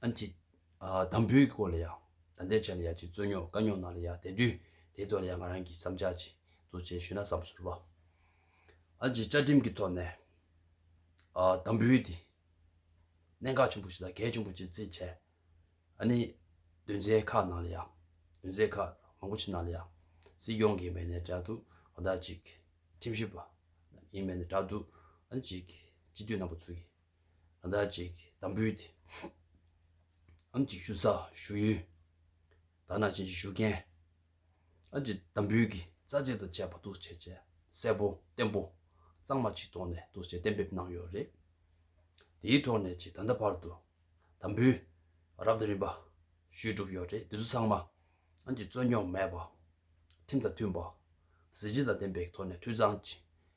ཨན་ཅིག། དང་པོའི་སྐོར་ལ་ཡང། ད་ལྟའི་ཆར་ལ་ཡང་ཅིག་རྩོད་རྙོག་དཀའ་རྙོག་ནང་ལ་ཡང་དེ་དུས་དེའི་ཐོག་ལ་ཡང་ང་རང་གིས་བསམ་འཆར་ཅིག་གཙོ་བྱས་ཞུས་ན་བསམ་ཚུར་བ། ཨན་ཅིག་བཅའ་ཁྲིམས་ཀྱི་ཐོག་ནས། དང་པོའི་དེ། གནད་འགག་ཆེན་པོ་ཞིག་དང་གལ་ཆེན་པོ་ཅིག་རྩིས་བྱས། ཨ་ནི། དོན་ཚན་ཁག་ནང་ལ་ཡང། དོན་ཚན་ཁག་མང་པོ་ཆེ་ནང་ལ་ཡང། སྲིད་སྐྱོང་གིས་མེད་ནས་བསྒྲགས་འདུག་གང་དག་ཅིག། ཁྲིམས་ཞིབ་པ། ཡིན་མེད་ནས་བསྒྲགས་འདུག་ཨན་ཅིག། སྤྱི་འཐུས་རྣམ་པ་ཚོ་གིས། ང་ཟླ་གཅིག་དམ་འབུལ་དེ། ཨམ་གཅིག་བཞུགས་ས་བཞུགས་ཡུལ། དར་ནག་ཅན་གྱི་བཞུགས་མཁན། ཨ་ཅེ་དམ་འབུལ་གྱི་རྩ་ཆེན་དང་བཅས་པ་འདུ་བྱེད་ཅན་གསལ་པོ་བརྟན་པོ་གཙང་མ་ཆིག་ཐོག་ནས་འདུ་བྱེད་གཏན་འབེབས་གནང་ཡོད་རེད། དེའི་ཐོག་ནས་ཅིག་ད་ལྟ་བར་དུ་དམ་འབུལ་རབ་དང་རིམ་པ་ཞུས་གྲུབ་ཡོད་རེད་དེ་ཚོ་ཚང་མ་ཨ་ཅེ་རྩོད་རྙོག་མེད་པ། ཁྲིམས་དང་མཐུན་པ། གཟི་བརྗིད་དང་ལྡན་པའི་ཐོག་ནས་འཐུས་ཚང་ཅིག་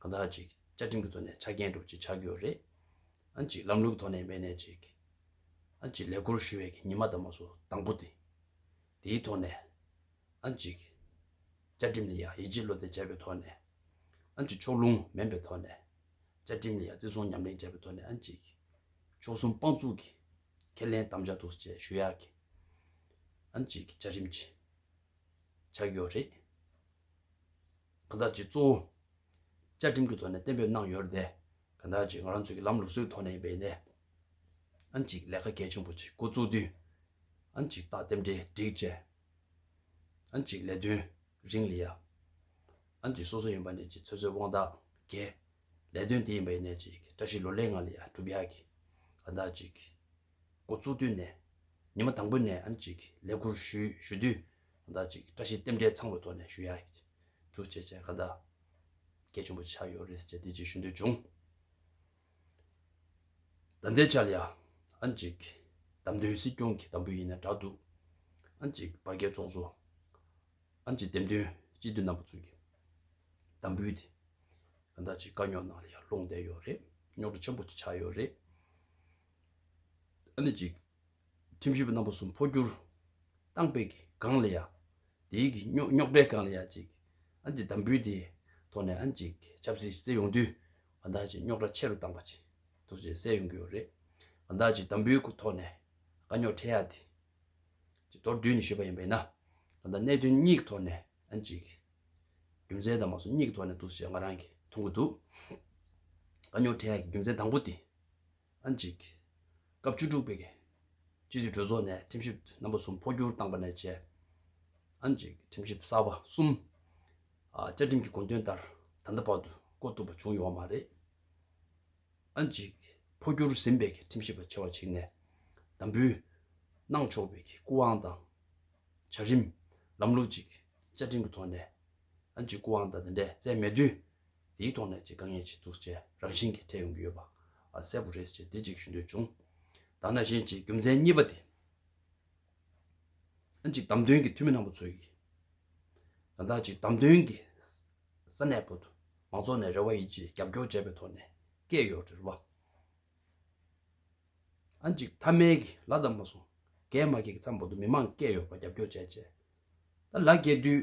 གང་དག་ཅིག་བཅའ་ཁྲིམས་ཀྱི་ཐོག་ནས་ཆ་རྐྱེན་སྒྲོག་ཅིག་ཆ་རྒྱུས་རེད། ཅིག་ལམ་ལུགས་ཀྱི་ཐོག་ནས་མེད་ནས་ཅིག། ཅིག་ལས་འཁུར་ཞུ་བའི་གི་ཉི་མ་དང་མ་སུ་དང་པོ་དེ། དེའི་ཐོག་ནས། ཅིག། བཅའ་ཁྲིམས་ལ་ཡང་ཡིད་ཆེས་བློ་གཏད་བྱས་པའི་ཐོག་ནས། ཅིག་ཕྱོགས་ལྷུང་མིན་པའི་ཐོག་ནས། བཅའ་ཁྲིམས་ལ་ཡང་བརྩི་སྲུང་ཉམས་ལེན་བྱས་པའི་ཐོག་ནས་ཅིག། ཕྱོགས་གསུམ་དཔང་བཙུགས་ཀྱི། ཁས་ལེན་དམ་བཅའ་ཐུགས་སུ་བཅས་ཞུ་ཡག་གི། ཅིག་བཅའ་ཁྲིམས་ཀྱི། ཆ་རྒྱུས་རེད། གང་དག་ཅིག་གཙོ་བོ། བཅའ་ཁྲིམས་ཀྱི་ཐོག་ནས་གཏན་འབེབས་གནང་ཡོད་དེ། གང་དག་ཅིག་ང་རང་ཚོའི་གི་ལམ་ལུགས་སྲོལ་ཐོག་ནས་ཡིན་པའི་ཡིན་ནའང་ཅིག་ལས་ཀ་གལ་ཆེན་པོ་ཅིག་འགོ་བཙུགས་དུས། ཨང་ཅིག་རྟགས་དེབ་འདྲེ་སྒྲིག་བཅས། ཨང་ཅིག་ལས་དོན་རིང་ལི་ཡ། ཨང་ཅིག་སོ་སོ་ཡིན་པ་ནས་ཅིག་ཚོད་ཚོད་དབང་རྟགས་འགེལ། ལས་དོན་དེ་ཡིན་པ་ཡིན་ནའི་ཅིག་བཀྲ་ཤིས་ལོ་ལེགས་ང་ལི་ཡ་གྲུབ་ཡག་གིས་གང་དག་ཅིག། འགོ་བཙུགས་དུས་ནས། ཉི་མ་དང་པོ་ནས་ཨང་ཅིག་ལས་ཁུར་ཞུས་དུས། ཟླ་གཅིག་བཀྲ་ཤིས་རྟེན་འབྲེལ་ཚང་བའི་ཐོག་ནས་ཞུ་ཡག་ཐུགས་རྗེ་ཆེ་ག་ད་སྐད་ཆེན་པོ་ཆགས་ཡོད་རེད་ཅེས་བདེ་སྐྱིད་ཞུ་འདོད་བྱུང། ད་འདས་ཅལ་ཡ། ཨ་མཇིག། དམ་དོན་སྲིད་སྐྱོང་གི་དམ་བུ་ཡིན་ན་དྲག་འདུག། ཨ་མཇིག་བར་བརྒལ་ཚོགས་གཙོ། ཨ་མཇིག་འདེམས་ཐོན་སྤྱི་འཐུས་རྣམ་པ་ཚོ་གི་དམ་བུ་དེ། ག་ད་ཅིག་དཀའ་རྙོག་ནང་ལ་ཡར་ལྷུང་བསྡད་ཡོད་རེད་རྙོག་དྲ་ཆེན་པོ་ཅིག་ཆགས་ཡོད་རེད། ཨ་ནི་གཅིག། ཁྲིམས་ཞིབ་རྣམ་པ་གསུམ་འཕོ་འགྱུར། ཏང་པེ་གི་གང་ལ་ཡ། དེ་ཡི་གི་རྙོག་རྙོག་དྲའི་གང་ལ་ཡ་གཅིག། ཨན་གྱི་དམ་འབུལ་དེའི་ཐོག་ནས་ཨན་གཅིག་ཆབ་སྲིད་བརྩད་ཡོང་དུས་ང་དང་གཅིག་རྙོག་དྲ་ཆེ་རུ་བཏང་པ་ཅིག་ཐུགས་རྗེ་གསལ་ཡོང་གི་ཡོད་རེད། ང་དང་གཅིག་དམ་འབུལ་གི་ཐོག་ནས་དཀའ་རྙོག་འཕྲད་ཡ་དེ་གཅིག་མདོར་བསྡུས་ནས་ཞུས་པ་ཡིན་པ་ཡིན་ན་ང་དང་གནད་དོན་གཉིས་ཀྱི་ཐོག་ནས་ཨན་གཅིག་རྒྱུ་མཚན་དང་མ་སོ་གཉིས་ཀྱི་ཐོག་ནས་འདུག་ཅེས་ང་རང་གིས་མཐོང་གི་འདུག་དཀའ་རྙོག་འཕྲད་ཡ་གི་རྒྱུ་མཚན་དང་པོ་དེ་ཨ་འཇིགས། སྐབས་བཅུ་དྲུག་པའི། སྤྱི་འཐུས་གྲོས་ཚོགས་ནས་ཁྲིམས་ཞིབ་རྣམ་པ་གསུམ་འཕོ་འགྱུར་བཏང་པ་ནས་བཅས། ཨ་འཇིགས། ཁྲིམས་ཞིབ་གསར་པ་གསུམ། བཅའ་ཁྲིམས་ཀྱི་དགོངས་དོན་ལྟར་ད་ལྟ་བར་དུ་བསྐོ་ཐུབ་པ་བྱུང་ཡོད་མ་རེད། ཨ་འཇིགས། འཕོ་འགྱུར་ཟིན་པའི་ཁྲིམས་ཞིབ་པ་ཆེ་བ་ཞིག་ནས་དམ་འབུལ། གནང་ཆོག་པའི་སྐུ་དབང་དང། བྱ་རིམ། ལམ་ལུགས་ཅིག་བཅའ་ཁྲིམས་ཀྱི་ཐོག་ནས། ཨ་འཇིགས་སྐུ་དབང་དང་དེ་འདྲས་བསྩལ་མེད་དུས། དེའི་ཐོག་ནས་ཀྱི་དཀའ་ངལ་ཆེ་ཚུལ་བཅས་རང་བཞིན་གྱིས་འཕྲད་ཡོང་གི་ཡོད་པ་གསལ་པོ་རེད་ཅེས་དེ་གཅིག་ཞུ་འདོད་བྱུང། ད་ནང་བཞིན་གྱི་རྒྱུ་མཚན་གཉིས་པ་དེ། ཨ་ཅིག་བདམས་ཐོན་གྱི་འཐུས་མི་རྣམ་པ་ཚོ་ཡིས། ད་ལྟ་ཅིག་བདམས་ཐོན་གྱི་ས་གནས་བོད་དུ་མང་ཚོགས་ནས་རེ་བ་ཡིན་ཅེས་རྒྱབ་སྐྱོར་བྱས་པའི་ཐོག་ནས་སྐད་ཡོད་རེད་བ། ཨ་ཅིག་མཐའ་མའི་གི་ལ་བདམས་མ་སོང། རྒས་མ་རྒས་ཀྱི་མཚམས་བོད་དུ་མི་མང་སྐད་ཡོད་པ་རྒྱབ་སྐྱོར་བྱས་བྱས། ད་ལ་རྒས་དུས།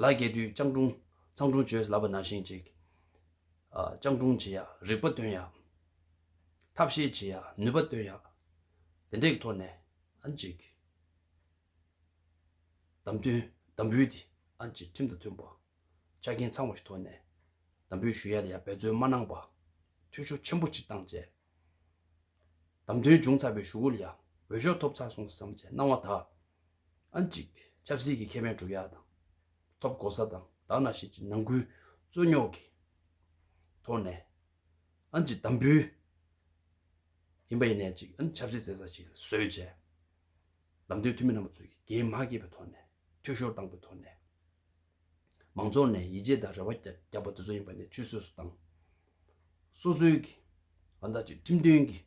ལ་རྒྱས་དུས་སྤྱང་གྲུང། ཚང་གྲུང་བྱོས་ལབ་པ་ན་ཤིང་གཅིག། སྤྱང་གྲུང་བྱེད་ཡག་རིག་པ་སྟོན་ཡག། ཐབས་ཤེས་བྱེད་ཡག་ནུས་པ་སྟོན་ཡག། དེ་འདྲའི་ཐོག་ནས་ཨ་འཇིགས། དམ་དོན་དམ་འབུལ་དེ་ཨ་འཇིགས་ཁྲིམས་དང་མཐུན་པ། ཆ་རྐྱེན་ཚང་བ་ཞིག་ཐོག་ནས་དམ་འབུལ་ཞུ་ཡ་ལ་ཡང་འབད་རྩོལ་མ་གནང་པ། འཐུས་ཤོར་ཆེན་པོ་ཅིག་བཏང་བཅས། དམ་དོན་འབྱུང་ཚར་བའི་ཞུ་སྒོ་ལ་ཡང་འོས་ཤོག་ཐོབ་ཚར་སོང་བསམ་བཅས་སྣང་བ་དག་ཨང་གཅིག་ཆབ་སྲིད་ཀྱི་ཁེ་ཕན་བསྒྲུབ་ཡག་དང། ཐོབ་གོ་ས་དང་དག་སྣ་ཞིག་གི་ནང་ཁུལ་རྩོད་རྙོག་གི་ཐོག་ནས་ཨང་གཅིག་དམ་འབུལ་ཡིན་པ་ཡིན་ནས་གཅིག་ཨང་ཆབ་སྲིད་བཙལ་ས་ཞིག་བཟོས་རྗེས། ལམ་སྟོན་འཐུས་མི་རྣམ་པ་ཚོས་ཀྱིས་རྒྱའི་དམག་སྐྱེད་པའི་ཐོག་ནས་འཐུས་ཤོར་བཏང་པའི་ཐོག་ནས། མང་ཚོགས་ནས་ཡིད་ཆེས་དང་རེ་བ་བརྒྱབ་པ་དེ་ཚོ་ཡིན་པ་ནི་ཆུད་ཟོས་སུ་བཏང། སོ་སོའི་གི་ང་བདག་ཅིག་ཁྲིམས་མཐུན་གི་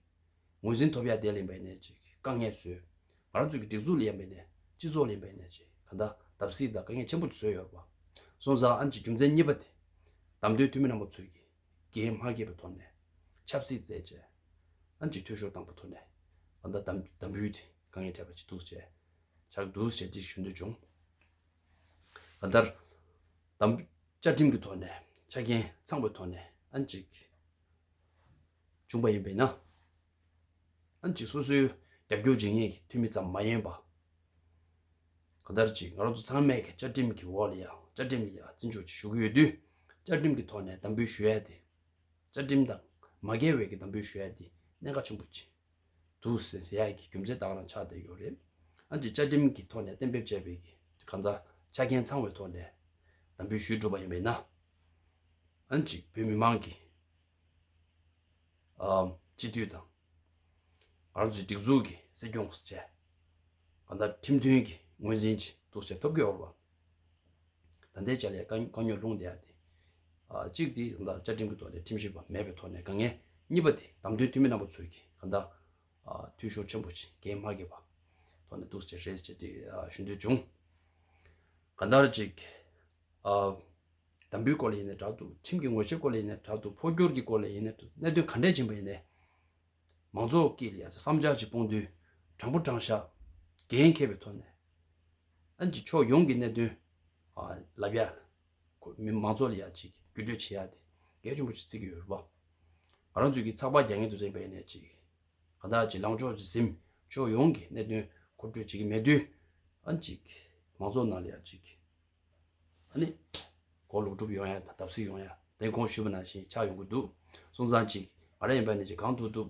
ངོས་ཟིན་ཐོབ་ཡ་དེ་ལེན་པའི་ནས་ཅིག་དཀའ་ངལ་བཟོས། ང་རང་ཚོའི་གི་སྒྲིག་འཛུགས་ལེན་པའི་ནས་སྤྱི་ཚོགས་ལེན་པའི་ནས་ཅིག་ག་ད་བརྡབ་བསིལ་དང་དཀའ་ངལ་ཆེན་པོ་བཟོས་ཡོད་པ། སོང་ཙང་ཨན་ཅིག་རྒྱུ་མཚན་གཉིས་པ་དེ། བདམས་ཐོན་འཐུས་མི་རྣམ་པ་ཚོས་གི་འགན་མ་བགྱིས་པའི་ཐོག་ནས་ཆབ་སྲིད་བརྩད་བཅད། ཨན་ཅིག་འཐུས་ཤོར་བཏང་པ་ཐོག་ནས་ང་ད་བདམས་བདམས་བུའི་དེ་དཀའ་ངལ་འཕྲད་པ་ཅིག་འདུག་བྱས། ཆགས་འདུག་བྱས་ཅིག་ཞུ་འདོད་བྱུང། གང་ལྟར། དམ་བཅའ་ཁྲིམས་ཀྱི་ཐོག་ནས་ཆ་རྐྱེན་ཚང་བའི་ཐོག་ནས་ཨན་ཅིག་བྱུང་པ་ཡིན་པས་ན། ཨན་ཅིག་སོ་སོའི་རྒྱབ་སྐྱོར་བྱེད་མཁན་གྱི་འཐུས་མི་ཙམ་མ་ཡིན་པར། གང་ལྟར་གྱི་ང་རང་ཚོ་ཚང་མས་བཅའ་ཁྲིམས་ཀྱི་འོག་ལ་ཡང་བཅའ་ཁྲིམས་ལ་ཡང་བརྩི་འཇོག་བྱེད་ཞུ་གི་ཡོད་དུས། བཅའ་ཁྲིམས་ཀྱི་ཐོག་ནས་དམ་འབུལ་ཞུ་ཡ་དེ། བཅའ་ཁྲིམས་དང་མ་འགལ་བའི་གི་དམ་འབུལ་ཞུ་ཡ་དེ་གནད་འགག་ཆེན་པོ་ཅིག་འདུག་ཟེར་གསལ་ཡག་གི་རྒྱུ་མཚན་དག་ལ་ཆགས་བསྡད་ཡོད་རེད། ཨང་ཅིག་བཅའ་ཁྲིམས་ཀྱི་ཐོག་ནས་གཏན་འབེབས་བྱས་པའི་ཁང་བཟང་ཆ་རྐྱེན་ཚང་བའི་ཐོག་ནས་དམ་འབུལ་ཞུས་འགྲོ་པ་ཡིན་པས་ན། ཨང་ཅིག་བོད་མི་མང་གིས་སྤྱི་འཐུས་དང། རང་ཚོའི་སྒྲིག་འཛུགས་ཀྱི་སྲིད་སྐྱོང་བཅས་གང་ལྟར་ཁྲིམས་མཐུན་གྱི་ངོས་འཛིན་གྱི་གཏུག་བཤེར་ཐོབ་གི་ཡོད་པ། ད་ལྟའི་བྱ་ལས་དཀའ་རྙོག་ལྷུང་བསྡད་དེ། གཅིག་དེ་ད་བཅའ་ཁྲིམས་ཀྱི་ཐོག་ནས་ཁྲིམས་ཞིབ་པ་མེད་པའི་ཐོག་ནས་དཀའ་ངལ། གཉིས་པ་དེ་བདམས་ཐོན་འཐུས་མི་རྣམ་པ་ཚོས་ཀྱིས་གང་ལྟར། འཐུས་ཤོར་ཆེན་པོ་ཞིག་འགན་མ་བགོས་པ། ཐོག་ནས་འདུག་ཅེས་རེད་ཅེས་དེ་ཞུ་འདོད་བྱུང། གང་ལྟར་གཅིག། དམ་འབུལ་སྐོར་ལ་ཡིན་ནས་དྲག་ཏུ་ཁྲིམས་ཀྱི་ངོ་ཆེ་སྐོར་ལ་ཡིན་ནས་དྲག་ཏུ་འཕོ་འགྱུར་གྱི་སྐོར་ལ་ཡིན་ནས་གནད་དོན་ག་འདྲས་ཅན་པ་ཡིན་ནས། མང་ཚོགས་ཀྱིས་བསམ་འཆར་གཅིག་སྤོང་དུས་དྲང་པོ་དྲང་བཞག་འགན་འཁྱེར་བའི་ཐོག་ནས། ཨན་གྱི་ཕྱོགས་ཡོངས་ཀྱི་གནད་དོན་ལ་བརྒྱ། མི་མང་ཚོགས་ལ་ཡ་གཅིག་བརྒྱུད་སྤྲོད་བྱེད་ཡ་དེ་གལ་ཆེན་པོ་ཞིག་བརྩི་གི་ཡོད་པ། ང་རང་ཚོས་ཀྱི་ཚགས་པར་རྒྱ་ངལ་དུ་གཟེངས་པའི་ནས་གཅིག། གང་དག་ཅིག་ལངས་ཕྱོགས་ཀྱི་གཟིམ་ཕྱོགས་ཡོངས་ཀྱི་གནད་དོན་མཁོ་སྤྲོད་བྱེད་ཀྱི་མེད་དུས། ཨན་གྱི་མང་ཚོགས་ནང་ལ་ཡ་གཅིག། ཨ་ནི། གོ་ལོག་སྒྲུབ་ཡོང་ཡ་དང་བརྡབ་གསིག་ཡོང་ཡ་དེ་གོང་ཞུས་པ་ནང་བཞིན་ཆགས་ཡོང་གི་འདུག་སོང་ཙང་གཅིག་ང་རང་ཡིན་པ་ནས་ཅིག་གང་ཐུབ་ཐུབ།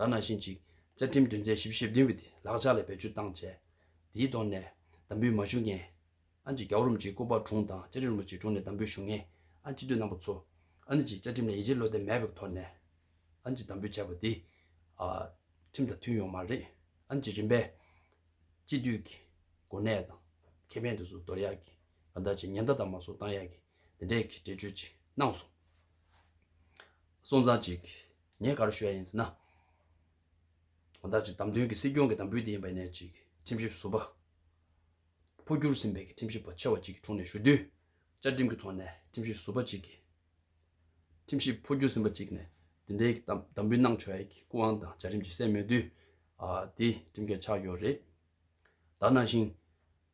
ད་ནང་བཞིན་ཅིག་བཅའ་ཁྲིམས་དོན་ཚན་ཞིབ་བཞི་ཞེ་བདུན་པའི་ལག་ཆ་ལ་བེད་སྤྱོད་བཏང་རྗེས། དེའི་ཐོག་ནས་དམ་འབུལ་མ་ཞུ་མཁན། ཨ་ཅེ་རྒྱ་བོ་རིན་པོ་ཆེའི་སྐུ་པར་དྲུང་དང་བཅའ་ཁྲིམས་རིན་པོ་ཆེའི་དྲུང་ནས་དམ་འབུལ་ཞུ་མཁན་ཨ་ཅེ་སྟོད་ནང་པ་ཚོ། ཨ་ནི་ཅིག་བཅའ་ཁྲིམས་ལ་ཡིད་ཆེས་བློ་བརྟན་མེད་པའི་ཐོག་ནས། ཨ་ནི་ཅིག་དམ་འབུལ་བྱས་པ་དེ། ཁྲིམས་དང་མཐུན་ཡོང་མ་རེད། ཨ་ནི་ཅིག་རིམ་པས། སྤྱི་འཐུས་ཀྱི་གོ་གནས་དང། ཁེ་ཕན་དེ་ཚོ་འདོར་ཡག་གི། ག་ད་ཅིག་ཉེན་བརྡ་དང་མ་སོགས་བཏང་ཡག་གི། དེ་འདྲའི་གི་འགྲེལ་བརྗོད་ཅིག་གནང་སོང། སོང་ཙང་ཅིག། ངས་ག་རུ་ཞུ་ཡ་ཡིན་ཟེར་ན། དོན་དག་ཅིག་བདམས་ཐོན་གྱི་སྲིད་སྐྱོང་གི་དམ་འབུལ་དེ་ཡིན་པའི་ནས་ཅིག་ཁྲིམས་ཞིབ་ཟུར་པ། འཕོ་འགྱུར་ཟིན་པའི་ཁྲིམས་ཞིབ་པ་ཆེ་བ་ཅིག་གི་དྲུང་ནས་ཞུ་དུས། བཅའ་ཁྲིམས་ཀྱི་ཐོག་ནས་ཁྲིམས་ཞིབ་ཟུར་པ་ཅིག་གིས། ཁྲིམས་ཞིབ་འཕོ་འགྱུར་ཟིན་པ་ཅིག་ནས་དེ་འདྲའི་དམ་འབུལ་གནང་ཆོག་ཡ་གི་སྐུ་དབང་དང་བཅའ་ཁྲིམས་ཀྱི་སྲས་མོད་དུས། དེ་ཁྲིམས་འགལ་ཆགས་ཡོད་རེད། ད་ནང་བཞིན།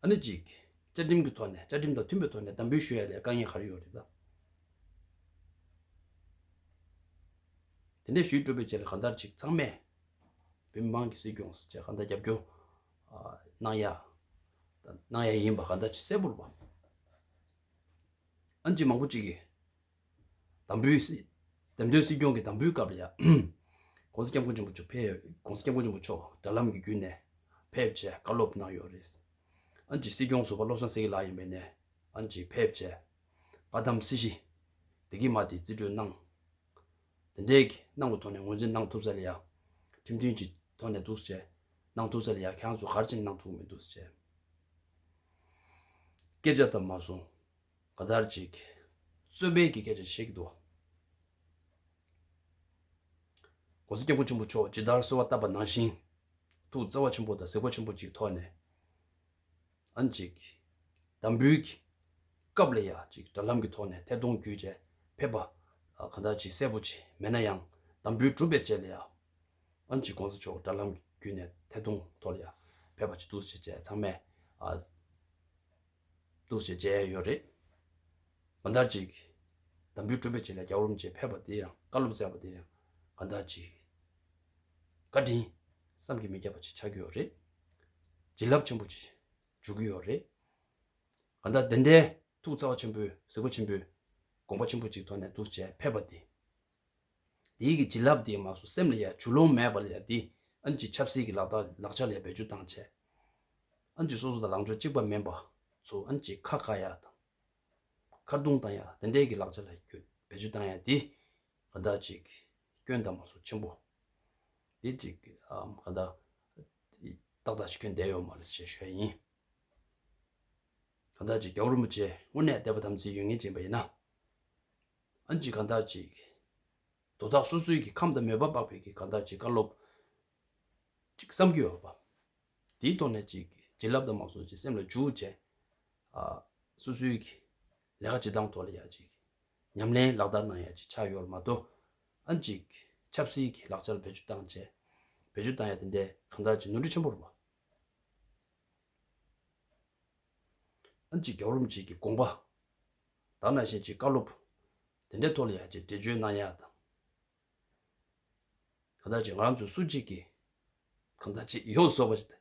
ཨ་ནི་གཅིག། བཅའ་ཁྲིམས་ཀྱི་ཐོག་ནས་བཅའ་ཁྲིམས་དང་མཐུན་པའི་ཐོག་ནས་དམ་འབུལ་ཞུ་ཡ་ལས་དཀའ་ངལ་ག་རེ་ཡོད་རེད་དམ། དེ་འདྲས་ཞུས་གྲུབ་པའི་རྗེས་ལ་གང་ལྟར་གཅིག་ཚང་མས་བོད་མི་མང་གི་སྲིད་སྐྱོང་ཅེས་གང་ལྟར་རྒྱབ་སྐྱོར་གནང་ཡ་གནང་ཡ་ཡིན་པ་གང་ལྟར་གཅིག་གསལ་པོར་བ། ཨ་ནི་གཅིག་མང་པོ་གཅིག་གིས། དམ་འབུལ། བདེན་དོན་སྲིད་སྐྱོང་གི་དམ་འབུལ་སྐབས་ལ་ཡང། ྋགོང་ས ྋསྐྱབས་མགོན་ཆེན་པོ་མཆོག་དྲ་ལམ་གྱི་བརྒྱུད་ནས་ཕེབས་རྗེས་བཀའ་སློབ་གནང་ཡོད་རེད། ྋསྐྱབས་སྲིད་སྐྱོང་ཟུར་པ་བློ་བཟང་སེངྒེ་ལགས་ཡིན་པའི་ནས ྋསྐྱབས་ཕེབས་རྗེས་བཀའ་གདམས་སྲིད་ཞི་བདེ་སྐྱེལ་མ་དེ་རྩིས་སྤྲོད་གནང། དེ་འད་གནང་གི་ཐོག་ནས་ངོས་འཛིན་གནང་ཐུབ་ས་ལ་ཡང་ཁྲིམས་མཐུན་གྱི་ཐོག་ནས་འདུག་ཅེས་གནང་ཐུབ་ས་ལ་ཡང་ཁྱེད་རང་ཚོ་གར་ཕྱིན་གནང་ཐུབ་མི་འདུག་ཅེས་སྐད་ཆ་བཏབ་མ་སོང། ག་དར་ཅིག། རྩོད་པའི་གི་གེ་ཅིག་བཤིག་ཏུ། གོང་ས་སྐྱབས་ཀུན་ཆེན་པོ་མཆོག་ཇི་ལྟར་གསོལ་བ་བཏབ་པ་ནང་བཞིན་དུ་རྩ་བ་ཆེན་པོ་དང་ཟེ་གོ་ཆེན་པོ་ཅིག་ཐོགས་ནས། ཨན་ཅིག། དམ་འབུལ་གྱི། སྐབས་ལ་ཡ་ཅིག་དྲ་ལམ་གྱི་ཐོག་ནས་ཐད་གཏོང་བརྒྱུད་བཅས་ཕེབས་པ། གང་དག་ཅིག་གསལ་པོ་ཅིག་མེད་ན་ཡང་དམ་འབུལ་གྲུབ་པའི་རྗེས་ལ་ཡ། ཨན་ཅིག་གོང་ས་མཆོག་དྲ་ལམ་བརྒྱུད་ནས་ཐད་གཏོང་ཐོག་ལ་ཡ་ཕེབས་པ་ཅིག་ཏུ་བྱེད་ཅེས་ཚང་མས། འདུག་ཅེས་མཇལ་ཡས་ཡོད་རེད། གང་ལྟར་ཅིག། དམ་འབུལ་སྤྲོ་འབུལ་བཅས་ལ་རྒྱ་རོམ་གྱིས་ཕེབས་པ་དེ་ཡང་བཀའ་སློབ་སྩལ་བ་དེ་ཡང་གང་ལྟར་ཅིག། བཀའ་དྲིན། བསམ་གྱིས་མི་ཁྱབ་པ་ཅིག་ཆགས་ཀྱི་ཡོད་རེད། བྱིན་རླབས་ཆེན་པོ་ཅིག་འཇུག་གི་ཡོད་རེད། གང་ལྟར་དེ་འདྲའི་ཐུགས་བརྩེ་བ་ཆེན་པོས་གཟིགས་པ་ཆེན་པོས་དགོངས་པ་ཆེན་པོ་ཅིག་ཐོག་ནས་འདུག་ཅེས་ཕེབས་པ་དེ། དེའི་གི་བྱིན་རླབས་དེའི་མ་སོ་སེམས་ལ་ཡ་བྱུ་ལོང་མེད་པ་ལ་ཡ་དེ་ཨན་ཅི་ཆབ་སྲིད་ཀྱི་ལག་རྟགས་ལག་ཆ་ལ་ཡ་བེད་སྤྱོད་དང་བྱས་ཨན་ཅི་སོ་སོ་དང་ལང་ཕྱོགས་གཅིག་པ་མིན་པ་ཚོ་ཨན་ཅི་ཁ་ཁ་ཡ་དང་ཁར་རྡུང་དང་ཡ་དེ་འདྲས་གི་ལག་ཆ་ལ་ཡ་བེད་སྤྱོད་དང་ཡ་དེ་ག་ད་ཅིག་སྐྱོན་དང་མ་སོ་ཆེན་པོ་དེ་ཅིག་གི་ག་ད་ཏག་ཏག་ཅིག་སྐྱོན་བསྡད་ཡོད་མ་རེད་ཅེས་ཤོད་ཡིན། ག་ད་ཅིག་རྒྱལ་བོ་རིན་པོ་ཆེ་དངོས་གནས་དད་པ་དམ་ཚིག་ཡོད་ངེས་ཅན་པ་ཡིན་ན། ཨན་གྱི་གང་དག་ཅིག། དོ་བདག་སོ་སོའི་གི་ཁམས་དང་མོས་པ་སྤགས་པའི་གི་གང་དག་ཅིག་བཀའ་སློབ། ཅིག་བསམ་གྱིས་བར་པ། དེའི་ཐོག་ནས་ཅིག། བྱིན་རླབས་དང་མ་སོགས་ཀྱི་སེམས་ལ་འཇུག། ཅེས། སོ་སོའི་གི། ལས་ཀ་ཅི་དང་ཐོག་ལ་ཡང་ཅིག། ཉམས་ལེན་ལག་བསྟར་ནང་ཡང་ཅིག་ཕྱག་ཡོར་མ་དོ། ཨན་ཅིག། ཆབ་སྲིད་གི་ལག་ཆར་བེད་སྤྱོད་བཏང། ཅེས། བེད་སྤྱོད་བཏང་ཡང་དེ་འདྲའི་གང་དག་ཅིག་ནོར་འཁྲུལ་ཆེན་པོར་བ། ཨན་ཅིག་རྒྱ་བོར་རུམ་ཅིག་གི་དགོངས་པ། དག་ན་བཞིན་གྱིས་བཀའ་སློབ། དེ་འདྲའི་ཐོག་ལ་ཡང་ཅིག་འགྲེལ་བརྗོད་གནང་ཡག་དང། གང་དག་ཅིག་ང་རང་ཚོ་སུ་གཅིག་གིས། གང་དག་ཅིག་ཡོངས་སུ་རྫོགས་པ།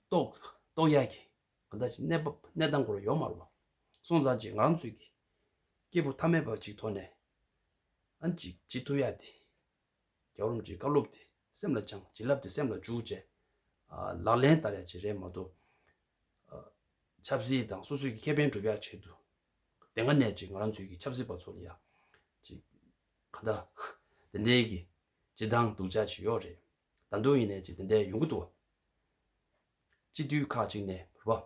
རྟོགས་ཡག་གི། གང་དག་ཅིག་གནས་བབ་གནས་སྟངས་སྐོར་ཡོག་མ་རུང་བ། སོང་ཙང་ཅིག་ང་རང་ཚོའི་གི། སྐྱེས་བུ་ཐ་མལ་པ་ཅིག་ཐོག་ནས། ཨ་ཅིག་ཅི་ཐུབ་ཡག་དེ། རྒྱ་རོམ་གྱི་བཀའ་སློབ་དེ་སེམས་ལ་བཅངས་བྱིན་རླབས་དེ་སེམས་ལ་འཇུག་བཅས་ལག་ལེན་བསྟར་ཡག་བྱེད་རེས་མ་གཏོགས། ཆབ་སྲིད་དང་སོ་སོས་ཀྱི་ཁེ་ཕན་སྒྲུབ་ཡག་ཆེད་དུ་དེ་སྔ་ནས་ཀྱི་ང་རང་ཚོའི་གི་ཆབ་སྲིད་པ་ཚོ་ལ་ཡང་ཅིག་ག་ད་དེ་འདྲའི་གི་ཅི་སྡང་སྡུག་ཅག་ཅིག་ཡོད་རེད་ད་མདོ་ཡིན་ནས་ཅིག་དེ་འདྲའི་ཡོང་གི་འདུག་བ། སྤྱི་འཐུས་ཁག་ཅིག་ནས་བུ་བ།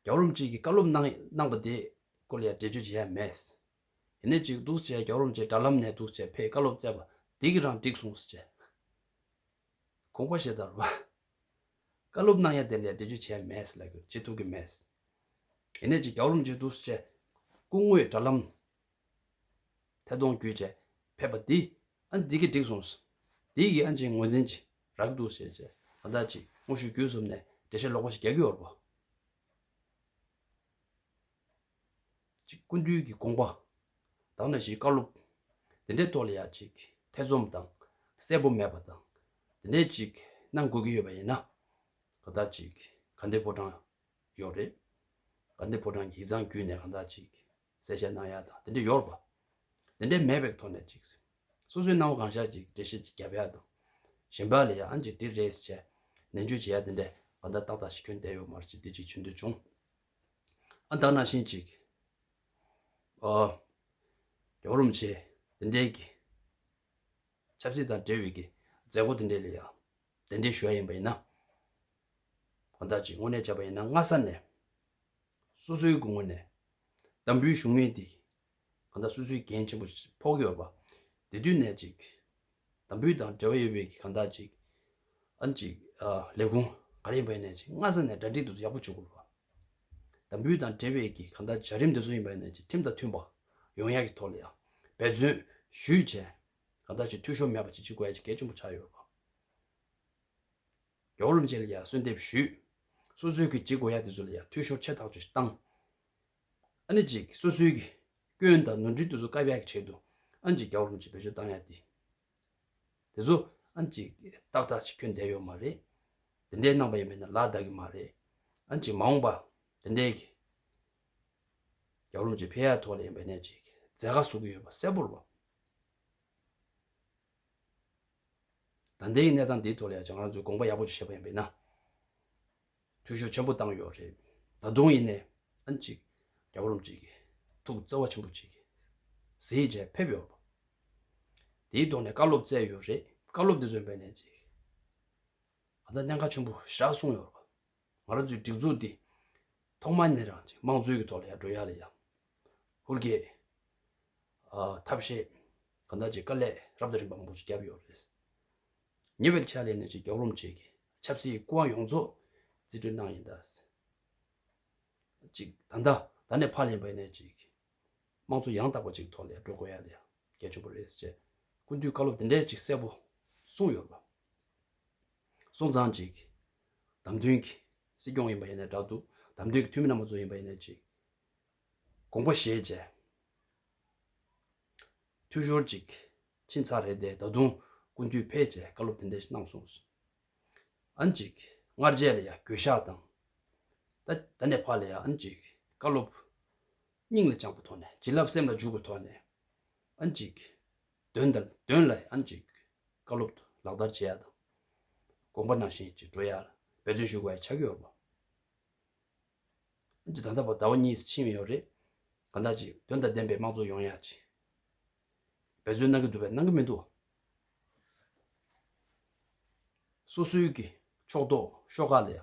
རྒྱ་རོམ་གཅིག་གི་བཀའ་སློབ་གནང་པ་དེ་སྐོར་ལ་ཡང་འགྲེལ་བརྗོད་བྱེད་ཡག་མེད། ནས་ཅིག་འདུག་བྱས་རྒྱ་རོམ་གྱི་དྲ་ལམ་ནས་འདུག་བྱས་ཕའི་བཀའ་སློབ་བསྩལ་པ་འདི་གི་རང་འགྲིག་སོང་ཟེར། ཁོང་པ་ཞེས་དར་བ། བཀའ་སློབ་གནང་ཡ་དེ་ལས་འབྲེལ་བརྗོད་བྱས་མེད་ལ་བྱེད་ཐུབ་ཀྱི་མེད། ནས་ཅིག་རྒྱ་རོམ་གྱི་འདུག་བྱས་སྐུ་དངོས་དྲ་ལམ། ཐད་གཏོང་བརྒྱུད་བྱས་ཕེབས་པ་འདི་ཨ་འདི་གི་འགྲིག་སོང་ཟེར། འདི་གི་ཨ་ཅིག་ངོས་འཛིན་གྱི་རག་གི་འདུག་བྱས་བྱས་ཨ་ད་ཅིག་དངོས་ཤུགས་བརྒྱུད་གསུམ་ནས་འགྲེལ་བཤད་ལོག་པ་ཞིག་རྒྱག་གི་ཡོད་རེད་པོ། གཅིག་ཀུན་འདུས་ཀྱི་དགོངས་པ། དང་ན་བཞིའི་བཀའ་སློབ། དེ་འདྲའི་ཐོག་ལ་ཡང་ཅིག་ཐེ་ཚོམ་དང་གསལ་པོ་མེད་པ་དང། དེ་འདྲའི་ཅིག་གནང་དགོས་ཀྱི་ཡོད་པ་ཡིན་ན། གང་དག་ཅིག་ག་འདི་ཕོ་བྲང་ཡོག་རེད། ག་འདི་ཕོ་བྲང་གི་ཡིག་ཚང་བརྒྱུད་ནས་གང་དག་ཅིག་གསལ་བཤད་གནང་ཡག་དང་དེ་འདྲ་ཡོག་པ། དེ་འདྲའི་མེད་པའི་ཐོག་ནས་ཅིག། སོ་སོའི་སྣང་བ་གང་ཤར་ཅིག་འགྲེལ་བཤད་ཅིག་བརྒྱབ་ཡག་དང། གཞན་པ་ལ་ཡང་ཅིག་འདི་རེད་ཟེར་བྱས་ནན་བརྗོད་བྱེད་ཡག་དེ་འདྲའི་གང་དག་ཏག་ཏག་ཞིག་ཁྱོན་བསྡད་ཡོག་མར་ཅིག་འདི་ཅིག་བྱེད་འདོད་བྱུང། བདག་ན་བཞིན་ཅིག། ཡོང་རུང་བྱས། དེ་འདྲའི་གི། ཆབ་སྲིད་དང་འབྲེལ་བའི་གི། མཛད་སྒོ་དེ་འདྲའི་ལ་ཡང། དེ་འདྲའི་ཞོལ་ཡིན་པ་ཡིན་ན། བདག་ཅིག་དངོས་གནས་བྱས་པ་ཡིན་ན་སྔ་ས་ནས། སོ་སོའི་གུ་ངོ་ནས། དམ་འབུལ་བཞུགས་མིན་དེ། གང་ལྟར་སོ་སོའི་འགན་ཆེན་པོ་ཕོག་ཡོད་པ་དེ་དུས་ནས་ཅིག་དམ་འབུལ་དང་འབྲེལ་བ་ཡོད་པའི་གང་ལྟར་ཅིག་ཨན་ཅིག་ལས་ཁུངས་ག་རེ་ཡིན་པ་ཡིན་ནས་ཅིག་སྔ་ས་ནས་གྲ་སྒྲིག་འདི་ཚོ་ཡག་པོ་བྱེད་དགོས་པ། དམ་འབུལ་དང་འབྲེལ་བའི་གི་གང་ལྟར་བྱ་རིམ་འདི་ཚོ་ཡིན་པ་ཡིན་ནས་ཅིག་ཁྲིམས་དང་མཐུན་པ་ཡོང་ཡག་གི་ཐོག་ལ་ཡང་འབད་བརྩོན་ཞུས་བྱས་གང་ལྟར་ཅིག་འཐུས་ཤོར་མེད་པ་ཅིག་བྱེད་དགོས་ཡ་ཅིག་གལ་ཆེན་པོ་ཆགས་ཡོད་པ། རྒྱ་བོད་རིམ་བྱས་ལ་ཡང་གསོལ་འདེབས་ཞུས། སོ་སོའི་གི་བྱེད་དགོས་ཡ་དེ་ཚོ་ལ་ཡང་འཐུས་ཤོར་ཆེ་ཐག་ཆོད་བཏང། ཨ་ནི་གཅིག་སོ་སོའི་གི། སྐྱོན་དང་ནོར་འཁྲུལ་དུ་སོ་ཀ་བྷྱ་གི་ཆེད་དུ། ཨ་ནི་གཅིག་རྒྱ་བོར་མི་བྱེད་བེད་སྤྱོད་བཏང་ཡ་དེ། དེ་ཚོ། ཨ་ནི་གཅིག་ཏག་ཏག་ཅིག་ཁྱོད་འདས་ཡོད་མ་རེད། དེ་འདྲའི་རྣམ་པ་ཡང་མེད་ན་ལ་དག་གི་མ་རེད། ཨ་ནི་གཅིག་མ་འོངས་པ། དེ་འདྲའི་གི། རྒྱ་བོར་མི་བྱེད་བྷེ་ཡ་ཐོག་ལ་ཡིན་པ་ནས་ཅིག་མཛད་དགའ་བཟོ་གི་ཡོད་པ་གསལ་པོར་བ། ད་འདས་གི་གནས་སྟངས་འདིའི་ཐོག་ལ་ཡང་ཅང་རང་ཚོས་དགོངས་པ་ཡག་པོ་ཅིག་བཞེས་པ་ཡིན་བེད་ན། འཐུས་ཤོར་ཆེན་པོ་བཏང་ཡོད་རེད། ད་དུང་ཡིན་ནའང་ཅིག། རྒྱ་གོ་རོམ་ཅིག་གིས། ཐུགས་བརྩེ་བ་ཆེན་པོ་ཅིག། གཟི་བརྗིད་ཕེབས་ཡོད་པ། དེའི་ཐོག་ནས་བཀའ་སློབ་སྩལ་ཡོད་རེད། བཀའ་སློབ་དེ་ཚོའི་སྦས་ནས་ཅིག། ང་ཚ་གནད་འགག་ཆེན་པོ་བཞག་གསུངས་ཡོད་རེད། ང་རང་ཚོའི་སྒྲིག་འཛུགས་འདི། ཐོག་མ་ནས་རང་ཅིག་དམངས་གཙོའི་གི་ཐོག་ལ་ཡང་འགྲོ་ཡག་ལ་ཡང། ཧུར་བསྐྱེད། ཐབས་ཤེས། གང་དག་ཅིག་དཀའ་ལས་རབ་དང་རིམ་པ་མང་པོ་ཅིག་བརྒྱབ་ཡོད་རེད། ཉེ་བའི་ཕྱག་ལས་གནས་ཆེན་རྒྱོགས་རོམ་བཅས་ཀྱི་ཆབ་སྲིད་སྐུ་དབང་ཡོངས་རྫོགས་རྩིས་སྤྲོད་གནང་ཡིན། ད་ལྟ་ད་ནས་ཕར་ལན་བས་ནས་ཅིག་དམངས་གཙོ་ཡང་དག་པ་ཅིག་ཐོག་ལས་འགྲོ་དགོས་ཡ་ལས་འགལ་ཆུང་པོ་རེད་ཅེས་སྐུ་མདུན་བཀའ་སློབ་དེ་འདྲའི་ཅིག་གསལ་པོ་གསུངས་ཡོད་པ་སོང་ཙང་ཅིག་བདམས་མཐུན་གྱི་སྲིད་སྐྱོང་ཡིན་པ་ཡིན་ནས་འདྲ་འདུག་བདམས་མཐུན་གྱི་འཐུས་མི་རྣམ་པ་ཚོ་ཡིན་པ་ཡིན་ནས་ཅིག་དགོངས་པ་བཞེས་བྱས། འཐུས་ཤོར་ཅིག་ཕྱིན་ཚར་རེད་དེ་ད་དུང་ཀུན་འཐུས་ཕེད་ཅེས་བཀའ་སློབ་དེ་འདྲས་གནང་སོང། ཨང་ཅིག་སྔར་རྗེས་ལ་ཡང་གོད་ཤག་དང། ད་ནས་ཕར་ལ་ཡང་ཨང་ཅིག་བཀའ་སློབ། སྙིང་ལ་བཅངས་པ་ཐོག་ནས་བྱིན་རླབས་སེམས་ལ་འཇུག་པ་ཐོག་ནས་ཨང་ཅིག། དོན་དང་དོན་ལ་ཨང་ཅིག་བཀའ་སློབ་ཏུ་ལག་བསྟར་བྱེད་ཡ་དང། དགོངས་པ་ནང་བཞིན་ཅིག་འགྲོ་ཡ་ལ་འབད་བརྩོན་ཞུ་དགོས་ཡ་ཆགས་ཀྱི་ཡོད་པ། ཅིག་ད་ལྟ་བ་ཟླ་བ་གཉིས་སུ་ཕྱིན་ཡོད་རེད། གང་ལྟར་ཅིག་དོན་དང་ལྡན་པའི་དམངས་གཙོ་ཡོང་ཡ་ཅིག་འབད་བརྩོན་གནང་གི་འདུག་པས་གནང་གི་མི་འདུག། སོ་སོའི་གི་ཕྱོགས་གཏོགས་ཤོག་ཁག་ལས་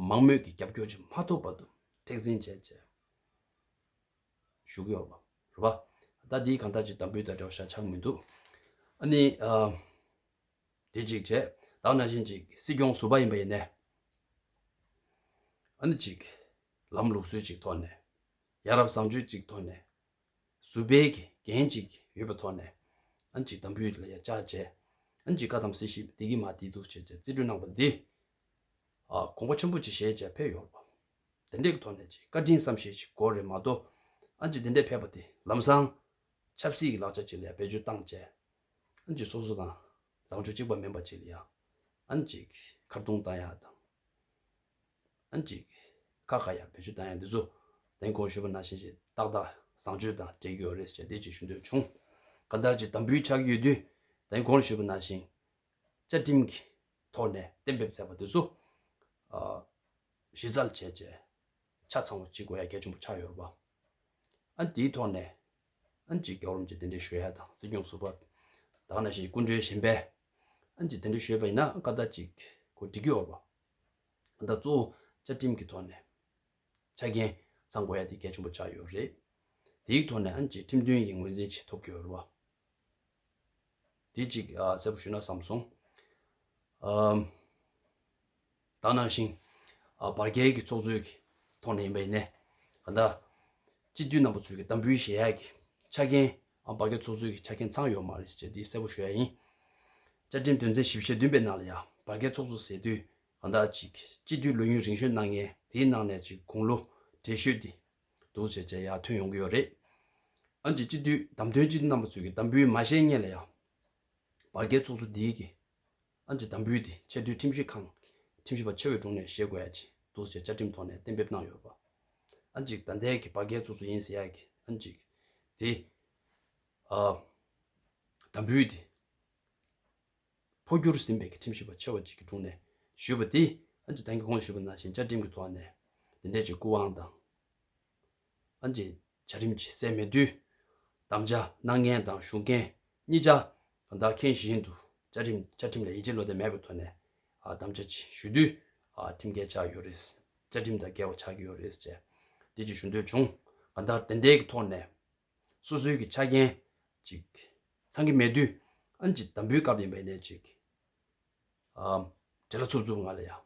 མང་མོས་ཀྱི་རྒྱབ་སྐྱོར་ཅིག་མ་ཐོབ་བར་དུ་མཁྲེགས་འཛིན་བྱས་བྱས་ཞུ་གི་ཡོད་པ་རེད། ད་འདི་གང་ལྟར་ཅིག་དམ་འབུལ་དང་འབྲེལ་བ་ཤ་ཆག་མི་འདུག། ཨ་ནི། དེ་གཅིག་བྱས། བདག་ན་བཞིན་ཅིག། སྲིད་སྐྱོང་ཟུར་པ་ཡིན་པ་ཡིན་ནས། ཨ་ནི་ཅིག། ལམ་ལུགས་སྲོལ་ཅིག་ཐོག་ནས། ཡ་རབས་བཟང་སྤྱོད་ཅིག་ཐོག་ནས། ཟུར་པའི་འགན་ཅིག་ཡོད་པའི་ཐོག་ནས། ཨ་ནི་ཅིག་དམ་འབུལ་ལ་ཡ་ཅག་བྱས། ཨ་ནི་ཅིག་བཀའ་གདམས་སྲིད་ཞིབ་བདེ་སྐྱིད་མ་བདེ་སྡུག་བྱས་བྱས་རྩིས་སྤྲོད་གནང་བ་འདི། གོང་བུ་ཆེན་པོ་ཅིག་བཞེས་བྱས་ཕེབས་ཡོང། དེ་འདྲའི་ཐོག་ནས་ཅིག་བཀའ་དྲིན་བསམ་ཤེས་ཅིག་གོ་རེ་མ་གཏོགས། ཨ་ནི་ཅིག་དེ་འདྲའི་ཕེབས་པ་དེ་ལམ་སང། ཆབ་སྲིད་ཀྱི་ལག་ཆ་ཅིག་ལ་ཡ་བེད་སྤྱོད་བཏང་བྱས། ཨན་ཅིག་སོ་སོ་དང། རང་ཕྱོགས་གཅིག་པ་མིན་པ་བཅས་ལ་ཡང། ཨན་ཅིག། ཁ་བརྡུང་བཏང་ཡག་དང། ཨན་ཅིག། ཁ་བཀག་ཡག་བེད་སྤྱོད་བཏང་ཡག་འདི་ཚོ། རྟེན་གོང་ཞུས་པ་ནང་བཞིན་ཞེ་ཏག་ཏག་བཟང་སྤྱོད་དང་འབྲེལ་ཡོད་རེད་ཞེས་བདེ་སྐྱིད་ཞུ་འདོད་བྱུང། ཁ་བརྡ་གཅིག་དམ་འབུལ་ཆགས་ཡོད་དུས། རྟེན་གོང་ཞུས་པ་ནང་བཞིན། བཅའ་ཁྲིམས་ཀྱི་ཐོག་ནས་གཏན་འབེབས་མཛད་པ་འདི་ཚོ། གཞི་རྩར་བྱས་རྗེས། ཆ་ཚང་བ་གཅིག་གོ་ཡ་གལ་ཆེན་པོ་ཆགས་ཡོད་རེད་པ། ཨན་དེའི་ཐོག་ནས། ཨན་ཅིག་རྒྱག་རུང་ཅི་དེ་འདྲའི་ཞོ་ཡ་དང་སྲིད་སྐྱོང་ཟུར་པ་དག་ན་ཞིག་སྐུ་མགྲོན་གཞན་པས་ཨན་ཅིག་དེ་འདྲ་ཞོས་པ་ཡིན་ན་ཨ་ཀ་ད་ཅིག་གོ་སྒྲིག་གི་འོག་པ་ཨ་ད་གཙོ་བོ་བཅའ་ཁྲིམས་ཀྱི་ཐོག་ནས་ཆ་རྐྱེན་ཚང་དགོས་ཡ་དེ་གལ་ཆེན་པོ་ཆགས་ཡོད་རེད་དེའི་ཐོག་ནས་ཨན་ཅིག་ཁྲིམས་མཐུན་གྱི་ངོས་འཛིན་བྱེད་ཐུབ་དགོས་རུ་བ་དེ་ཅིག་གསལ་པོ་ཞུས་ན་བསམ་སོང། དག་ནང་བཞིན། བར་བརྒལ་གྱི་ཚོགས་གཙོའི་ཐོག་ནས་ཡིན་པ་ཡིན་ནས། ད་ལྟ། སྤྱི་འཐུས་རྣམ་པ་ཚོས་གདམ་འབུལ་གཞལ་ཡག་གི་ཆ་རྐྱེན། བར་བརྒལ་ཚོགས་གཙོའི་ཆ་རྐྱེན་ཚང་ཡོད་མ་རེད་ཅེས་འདི་གསལ་པོ་ཞུ་ཡ་ཡིན། བཅའ་ཁྲིམས་དོན་ཚན་བཞི་བཞི་བདུན་པའི་ནང་ལ་ཡང་བར་བརྒལ་ཚོགས་གཙོ་ཟེར་དུས། གང་དག་ཅིག་སྤྱི་འཐུས་ལོ་ཡུན་རིང་ཤོས་གནང་མཁན་དེའི་ནང་ནས་ཅིག་དགུང་ལོ་བགྲེས་ཤོས་དེ། འདུག་ཅེས་བཅད་ཡ་ཐོན་ཡོང་གི་ཡོད་རེད། འོན་ཀྱི་སྤྱི་འཐུས་གདམ་དོན་སྤྱི་འཐུས་རྣམ་པ་ཚོས་གདམ་འབུལ་མ་བཞེས་མཁན་ལ་ཡང། བར་བརྒལ་ཚོགས་གཙོ་འདིའི་གི། ཏང་ཀྲི་དང་པུའུ་དེ་ཆེས་མཐོའི་ཁྲིམས་ཞིབ་ཁང། ཁྲིམས་ཞིབ་པ་ཆེ་བའི་དྲུང་ནས་ཞེ་དགོས་ཡ་གཅིག་འདུག་ཅེས་བཅའ་ཁྲིམས་ཐོག་ནས་གཏན་འབེབས་གནང་ཡོད། པ་ཨ་གཅིག་ད་ལྟའི་གི་བ་རྒན་ཚུགས་ཚུགས་ཡིན་ཟེར་ཡ་གི་ཨ་གཅིག་དེ། ཨ། དང་པུའུ་དེ། འཕོ་འགྱུར་ཟིན་པའི་གི་ཁྲིམས་ཞིབ་པ་ཆེ་བ་གཅིག་གི་དྲུང་ནས་ཞུས་པ་དེ་ཨ་གཅིག་ཏང་གི་གོང་ཞུས་པ་ནང་བཞིན་བཅའ་ཁྲིམས་ཀྱི་ཐོག་ནས་དེ་འདྲས་ཀྱི་སྐུ་དབང་དང། ཨན་ཅིན། བྱ་རིམ་གྱི་སད་མེད་དུས། དམ་བཅའ་སྣང་བརྙན་དང་གཞུང་རྐྱེན་གཉིས་ཆ་དང་དག་མཁན་བཞིན་དུ་བཅའ་ཁྲིམས་བཅའ་ཁྲིམས་ལ་ཡིད་ཆེས་བློ་བདེ་མེད་པའི་ཐོག་ནས་དམ་བཅའ་ཞུ་དུས་ཁྲིམས་འགལ་ཆགས་ཡོད་རེད། བཅའ་ཁྲིམས་དང་འགལ་བ་ཆགས་ཀྱི་ཡོད་རེད་ཅེས་རྗེས་ཀྱི་ཞུ་འདོད་བྱུང་ག་ལྟར་དེ་འབྲེལ་གྱི་ཐོག་ནས་སོ་སོའི་གྱི་ཆ་རྐྱེན་ཅིག་ཚང་གི་མེད་དུས་ཨན་ཅིན་དམ་འབུལ་སྐབས་ཡིན་པའི་གནད་ཅིག་འབྲེལ་ལ་ཚུབ་ཚུབ་ང་ལ་ཡང།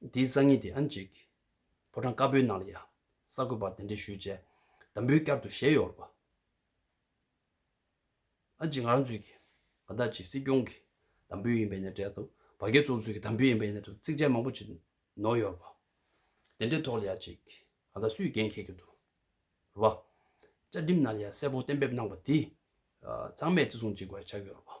དེའི་སང་ཉིན་དེ་ཨན་ཅིག། ཕོ་བྲང་དཀར་པོའི་ནང་ལ་ཡང། གསར་འགོད་པར་དེ་འདྲའི་ཞུས་རྗེས། དམ་འབུལ་བསྐྱར་དུ་བཞེས་ཡོད་པ། ཨན་ཅིག་ང་རང་ཚོའི་གི། ང་བདག་གི་སྲིད་སྐྱོང་གི། དམ་འབུལ་ཡིན་པའི་ནས་འབྲེལ་དུ། བ་རྒན་ཚོ་ཚོའི་གི་དམ་འབུལ་ཡིན་པའི་ནས་དུ་ཚིག་བཅད་མང་པོ་ཅིག། ནོར་ཡོད་པ། དེ་འདྲའི་ཐོག་ལ་ཡང་ཅིག། ང་བདག་སུས་འགན་འཁྱེར་གྱི་འདུག། རུ་བ། བཅའ་ཁྲིམས་ནང་ལ་ཡང་གསལ་པོ་གཏན་འབེབས་གནང་པ་དེ། ཚང་མས་བརྩི་སྲུང་ཅིག་བར་བྱ་གི་ཡོད་པ།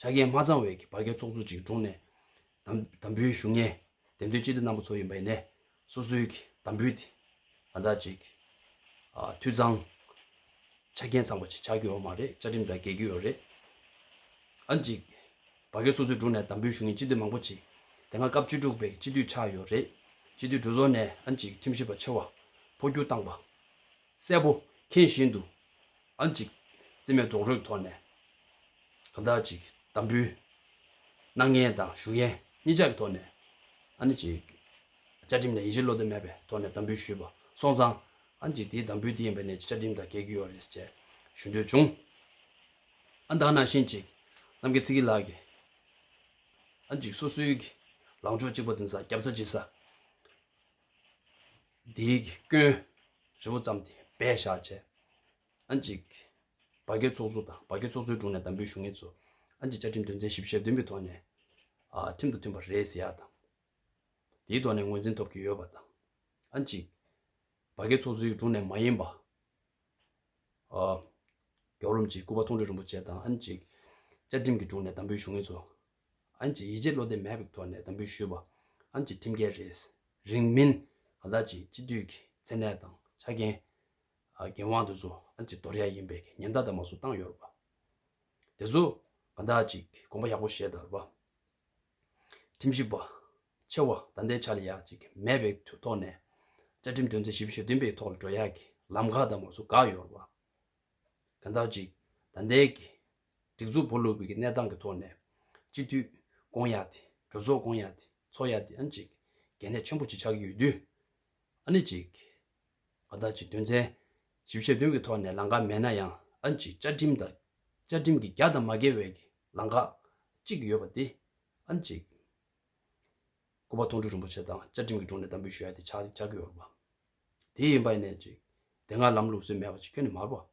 ཆ་རྐྱེན་མ་ཚང་བའི་གྱི་བར་བརྒལ་ཚོགས་གཙོ་གཅིག་དྲུང་ནས། དམ་འབུལ་ཞུ་སྙན། འདེམས་ཐོན་སྤྱི་བདེ་རྣམ་པ་ཚོ་ཡིན་པ་ཡིན་ནས། སོ་སོའི་གྱི་དམ་འབུལ་དེ། ང་དག་ཅིག། འཐུས་ཚང། ཆ་རྐྱེན་ཚང་བ་ཅིག་ཆགས་ཀྱི་ཡོག་མ་རེད་བཅའ་ཁྲིམས་དང་འགལ་གྱི་ཡོག་རེད། ཨ་ཅིག། བར་བརྒལ་ཚོགས་གཙོའི་དྲུང་ནས་དམ་འབུལ་ཞུ་སྙན་སྤྱི་བདེ་མང་པོ་ཅིག། དེ་སྔ་སྐབས་བཅུ་དྲུག་པའི་གྱི་སྤྱི་འཐུས་ཆགས་ཡོག་རེད། སྤྱི་འཐུས་གྲོས་ཚོགས་ནས་ཨ་ཅིག་ཁྲིམས་ཞིབ་པ་ཆེ་བ། འཕོ་འགྱུར་བཏང་པ། གསལ་པོ་མཁྱེན་བཞིན་དུ། ཨང་ཅིག། བརྩེ་མེད་རྡོག་རོལ་དོར་ནས། གང་དག་ཅིག། དམ་འབུལ། སྣང་བརྙན་དང་ཞུ་མཁན་གཉིས་ཆ་གི་ཐོག་ནས། ཨང་ཅིག། བཅའ་ཁྲིམས་ནས་ཡིད་ཆེས་བློ་བདེ་མེད་པའི་ཐོག་ནས་དམ་འབུལ་ཞུས་པ་སོང་ཙང། ཨང་ཅིག་དེའི་དམ་འབུལ་དེ་ཡིན་པ་ནས་ཀྱི་བཅའ་ཁྲིམས་དང་འགལ་གྱི་ཡོད་རེད་ཅེས་ཞུ་འདོད་བྱུང། ཨ་མདང་ནང་བཞིན་ཅིག། གནམ་གྱི་ཚིག་གི་ལག་གི། ཨང་ཅིག་སོ་སོའི། ལངས་ཕྱོགས་གཅིག་པ་འཛིན་ས་རྒྱབ་རྩ་གཅིག་ས། འདིའི་སྐྱོན། ཧྲིལ་བོ་བརྩམས་ཏེ་བས་བཞག་བྱས། ཨན་ཅིག། བ་རྒན་ཚོགས་གཙོ་དང་བ་རྒན་ཚོགས་གཙོའི་དྲུང་ནས་དམ་འབུལ་ཞུ་ངེས་ཚུལ། ཨན་ཅིག་བཅའ་ཁྲིམས་དོན་ཚན་ཞིབ་བཤེར་བདུན་པའི་ཐོག་ནས། ཁྲིམས་དང་མཐུན་པ་རེད་ཟེར་ཡག་དང། དེའི་ཐོག་ནས་ངོས་འཛིན་ཐོབ་ཀྱི་ཡོད་པ་དང། ཨན་ཅིག། བ་རྒན་ཚོགས་གཙོའི་དྲུང་ནས་མ་ཡིན་པ། རྒྱོགས་རོམ་གྱིས་སྐུ་པ་མཐོང་གྲོལ་རིན་པོ་ཆེ་དང་ཨན་ཅིག། བཅའ་ཁྲིམས་ཀྱི་དྲུང་ནས་དམ་འབུལ་ཞུ་ངེས་ཚུལ། ཨན་གྱིས་ཡིད་ཆེས་བློ་བདེ་མེད་པའི་ཐོག་ནས་དམ་འབུལ་ཞུས་པ། ཨན་གྱིས་ཁྲིམས་འགལ་རེད། རིང་མིན། ང་ད་ཅིའི་སྤྱི་འཐུས་ཀྱི་མཚན་གནས་དང་ཆ་རྐྱེན། འགན་དབང་དེ་ཚོ་ཨན་གྱིས་དོར་ཡ་ཡིན་པའི་ཉེན་བརྡ་དང་མ་སུ་བཏང་ཡོད་རེད་པ། དེ་ཚོ་ང་ད་ཅིས་དགོངས་པ་ཡག་པོ་བཞེས་དར་བ། ཁྲིམས་ཞིབ་པ། ཆེ་བ་ད་ལྟའི་ཆ་ལ་ཡག་ཅིག་མེད་པའི་ཐོག་ནས། བཅའ་ཁྲིམས་དོན་ཚན་ཞིབ་བཞི་བདུན་པའི་ཐོག་ལ་འགྲོ་ཡ་གི་ལམ་ཁ་དང་མ་སུ་བགག་ཡོད་རེད་པ། ང་ད་ཅིས་ད་ལྟའི་གི་སྒྲིག་འཛུགས་བོ་ལུགས་བོད་ཀྱི་གནས་སྟངས་ཀྱི་ཐོག་ནས། སྤྱི་འཐུས། ཀོང་ཡ་ཏི། གྲོས་ཚོགས་ཀོང་ཡ་ཏི། ཚོགས་ཡ་ཏི་ཨ་ནི་གཅིག། གལ་གནད་ཆེན་པོ་གཅིག་ཆགས་ཀྱི་ཡོད་དུས། ཨ་ནི་གཅིག། ང་བདག་གཅིག་དོན་ཚན། བཞི་བཞི་བྱེད་དོན་གྱི་ཐོག་ནས་ལངས་ཀ་མེད་ན་ཡང་ཨ་ནི་གཅིག་བཅའ་ཁྲིམས་དང། བཅའ་ཁྲིམས་ཀྱི་རྒྱ་དང་མ་འགལ་བའི་ལངས་ཀ། གཅིག་ཡོད་པ་དེ། ཨ་ནི་གཅིག། སྐུ་པ་ཐོང་ཁྲོ་རིན་པོ་ཆེ་དང་བཅའ་ཁྲིམས་ཀྱི་དྲུང་ནས་དམ་འབུལ་ཞུ་ཡ་ཏི་ཆགས་ཀྱི་ཡོད་པ། དེ་ཡིན་པ་ཨ་ནི་གཅིག། དེ་སྔར་ལམ་ལུགས་སྲོལ་མེད་པ་ཅིག་ཁྱོན་ནས་མར་བ།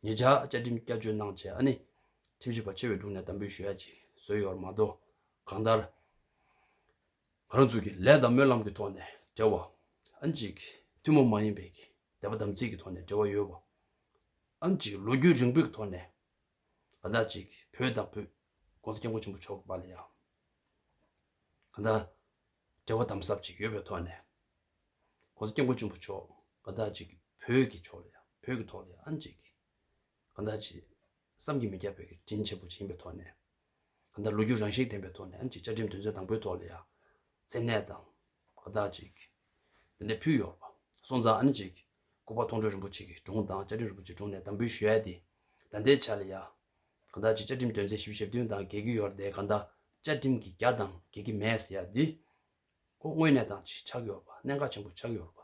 ངེད་ཅག་བཅའ་ཁྲིམས་བསྐྱར་བཅོས་གནང་བྱས་ཨ་ནི། ཁྲིམས་ཞིབ་པ་ཆེ་བའི་དྲུང་ནས་དམ་འབུལ་ཞུ་ཡ་ཅིག་བཟོས་ཡོད་པར་མ་གཏོགས། གང་ལྟར། ང་རང་ཚོ་གིས་ལས་དང་སྨོན་ལམ་གྱི་ཐོག་ནས་འབྲེལ་བ། ཨ་ཅིག། ཐུན་མོང་མ་ཡིན་པའི་གི་དད་པ་དམ་ཚིག་གི་ཐོག་ནས་འབྲེལ་བ་ཡོད་པ། ཨ་ཅིག་ལོ་རྒྱུས་རིང་པོའི་གི་ཐོག་ནས། གང་ལྟར་ཅིག་བོད་དང་བོདཀོང་ས་སྐྱབས་མགོན་ཆེན་པོ་མཆོག་གི་པར་ལ་ཡང། གང་ལྟར། འབྲེལ་བ་དམ་ཟབ་ཅིག་ཡོད་པའི་ཐོག་ནས། ྋགོང་ས ྋསྐྱབས་མགོན་ཆེན་པོ་མཆོག་གང་དག་ཅིག་བོད་ཀྱི་ཕྱོགས་ལ་ཡང་བོད་ཀྱི་ཐོག་ལ་ཡང་ཨང་ཅིག། གང་དག་ཅིག་བསམ་གྱིས་མི་ཁྱབ་པའི་གི་དྲིན་ཆེན་པོ་ཅིག་ཡིན་པའི་ཐོག་ནས། གང་དག་ལོ་རྒྱུས་རང་བཞིན་ལྡན་པའི་ཐོག་ནས་ཨང་ཅིག་བཅའ་ཁྲིམས་དོན་ཚན་དང་པོའི་ཐོག་ལ་ཡང་མཚན་གནས་དང་གང་དག་ཅིག། འདི་ནས་ཕུལ་ཡོག་པ་སོང་ཙང་ཨང་ཅིག། ལྐུགས་པ་མཐོང་གྲོལ་རིན་པོ་ཆེ་གིས་དྲུང་དང་བཅའ་ཁྲིམས་རིན་པོ་ཆེ་དྲུང་ནས་དམ་འབུལ་ཞུས་ཡས་ཏེ། ད་ལྟའི་ཆར་ལ་ཡག། གང་དག་ཅིག་བཅའ་ཁྲིམས་དོན་ཚན་ཞིབ་བཞི་ཞབས་བསྟུན་དང་གལ་གྱི་ཡོར་དེ་གང་དག་བཅའ་ཁྲིམས་ཀྱི་རྒྱ་དང་གལ་གྱི་མེད་ཟེར་ཡས་འདི། ཁོ་དངོས་གནས་དང་ཆིག་ཆག་ཡོར་པ་གནད་འགག་ཆེན་པོ་ཆགས་ཡོར་པ།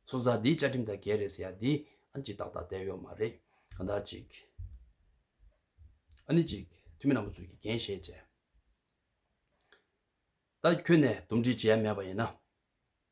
སོ་ཙག་འདི་བཅའ་ཁྲིམས་དང་འགལ་རེད་ཟེར་ཡས་འདི། ཨ་ནི་ཅིག་ཏག་ཏག་བསྡད་ཡོར་མ་རེད་གང་དག་ཅིག། ཨ་ནི་ཅིག་འཐུས་མི་རྣམ་པ་ཚོས་ཀྱིས་འགན་བཞེས་བྱས། ད་ཁྱོད་ནས་འདུམ་འགྲིག་བྱེད་ཡས་མེད་པ་ཡིན་ན།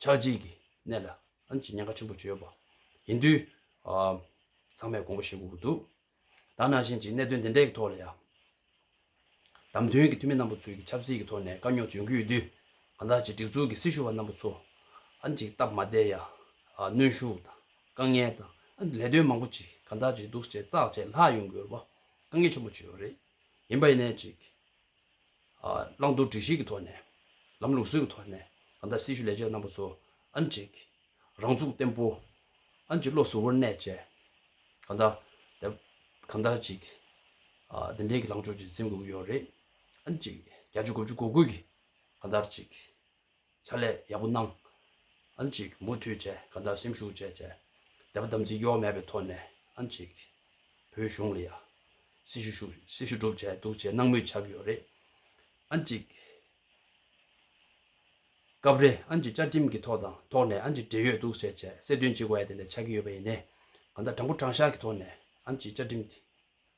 ཆགས་འཇིག་གི་གནས་ལ་ཨན་གྱི་ཉེན་ཁ་ཆེན་པོ་བརྗོད་པ་ཡིན་དུས། ཚང་མས་དགོངས་པ་བཞེས་དགོས་ཀྱི་འདུག་ད་ནང་བཞིན་གྱི་གནད་དོན་འདི་འདྲའི་གི་ཐོག་ལ་ཡང། བདམས་ཐོན་གྱི་འཐུས་མི་རྣམ་པ་ཚོས་གི་ཆབ་སྲིད་ཀྱི་ཐོག་ནས་དཀའ་རྙོག་བྱུང་གི་ཡོད་དུས། གང་ལྟར་གྱི་སྒྲིག་འཛུགས་ཀྱི་སྲི་ཞུ་བ་རྣམ་པ་ཚོ་ཨན་གྱི་སྟབས་མ་བདེ་ཡང། གནོན་ཤུགས་དང་དཀའ་ངལ་དང་ཨན་གྱི་ལས་དོན་མང་པོ་ཅིག་གང་ལྟར་གྱི་འདུག་བྱས་ཙག་བྱས་ལྷག་ཡོང་དགོས་པ་དཀའ་ངལ་ཆེན་པོ་བརྗོད་ཡོད་རེད། ཡིན་པ་ཡིན་ནའི་ཅིག། བླང་དོར་སྒྲིག་གཞིའི་ཐོག་ནས། ལམ་ལུགས་སྲོལ་གྱི་ཐོག་ནས། ད་ལྟ་སྲི་ཞུ་ལས་བྱེད་པ་རྣམ་པ་ཚོ། ཨ་ནི་གཅིག། རང་ཚུགས་བརྟན་པོ། ཨ་ནི་གཅིག་བློ་གཟུ་བོར་གནས་བཅས། གང་དག། གང་དག་ཅིག། བདེན་འབྲེལ་གྱི་ལངས་ཕྱོགས་ཀྱིས་འཛིན་དགོས་ཀྱི་ཡོད་རེད། ཨ་ནི་གཅིག། བརྒྱ་ཆ་དགུ་བཅུ་གོ་དགུ་གིས། གང་དག་ཅིག། ཕྱག་ལས་ཡག་པོ་གནང། ཨ་ནི་ཅིག་མུ་མཐུད་བཅས་གང་ལྟར་སེམས་ཤུགས་བཅས་བཅས་དད་པ་དམ་ཚིག་གཡོ་མེད་པའི་ཐོག་ནས་ཨ་ནི་ཅིག་བོད་གཞུང་ལ་ཡ་སི་ཞུ་ཞུ་སི་ཞུ་སྒྲུབ་བྱས་འདུག་བྱས་གནང་མུས་ཆགས་ཀྱི་ཡོད་རེད། ཨ་ནི་ཅིག། སྐབས་རེ་ཨ་ནི་ཅིག་བཅའ་ཁྲིམས་ཀྱི་ཐོག་དང་ཐོག་ནས་ཨ་ནི་ཅིག་འབྲེལ་ཡོད་འདུག་བྱས་བྱས་གསལ་སྟོན་ཅིག་བ་ཡ་དེ་འདྲ་ཆགས་ཀྱི་ཡོད་པ་ཡིན་ནའི་གང་ལྟར་དྲང་པོ་དྲང་བཞག་གི་ཐོག་ནས་ཨ་ནི་ཅིག་བཅའ་ཁྲིམས་དེ།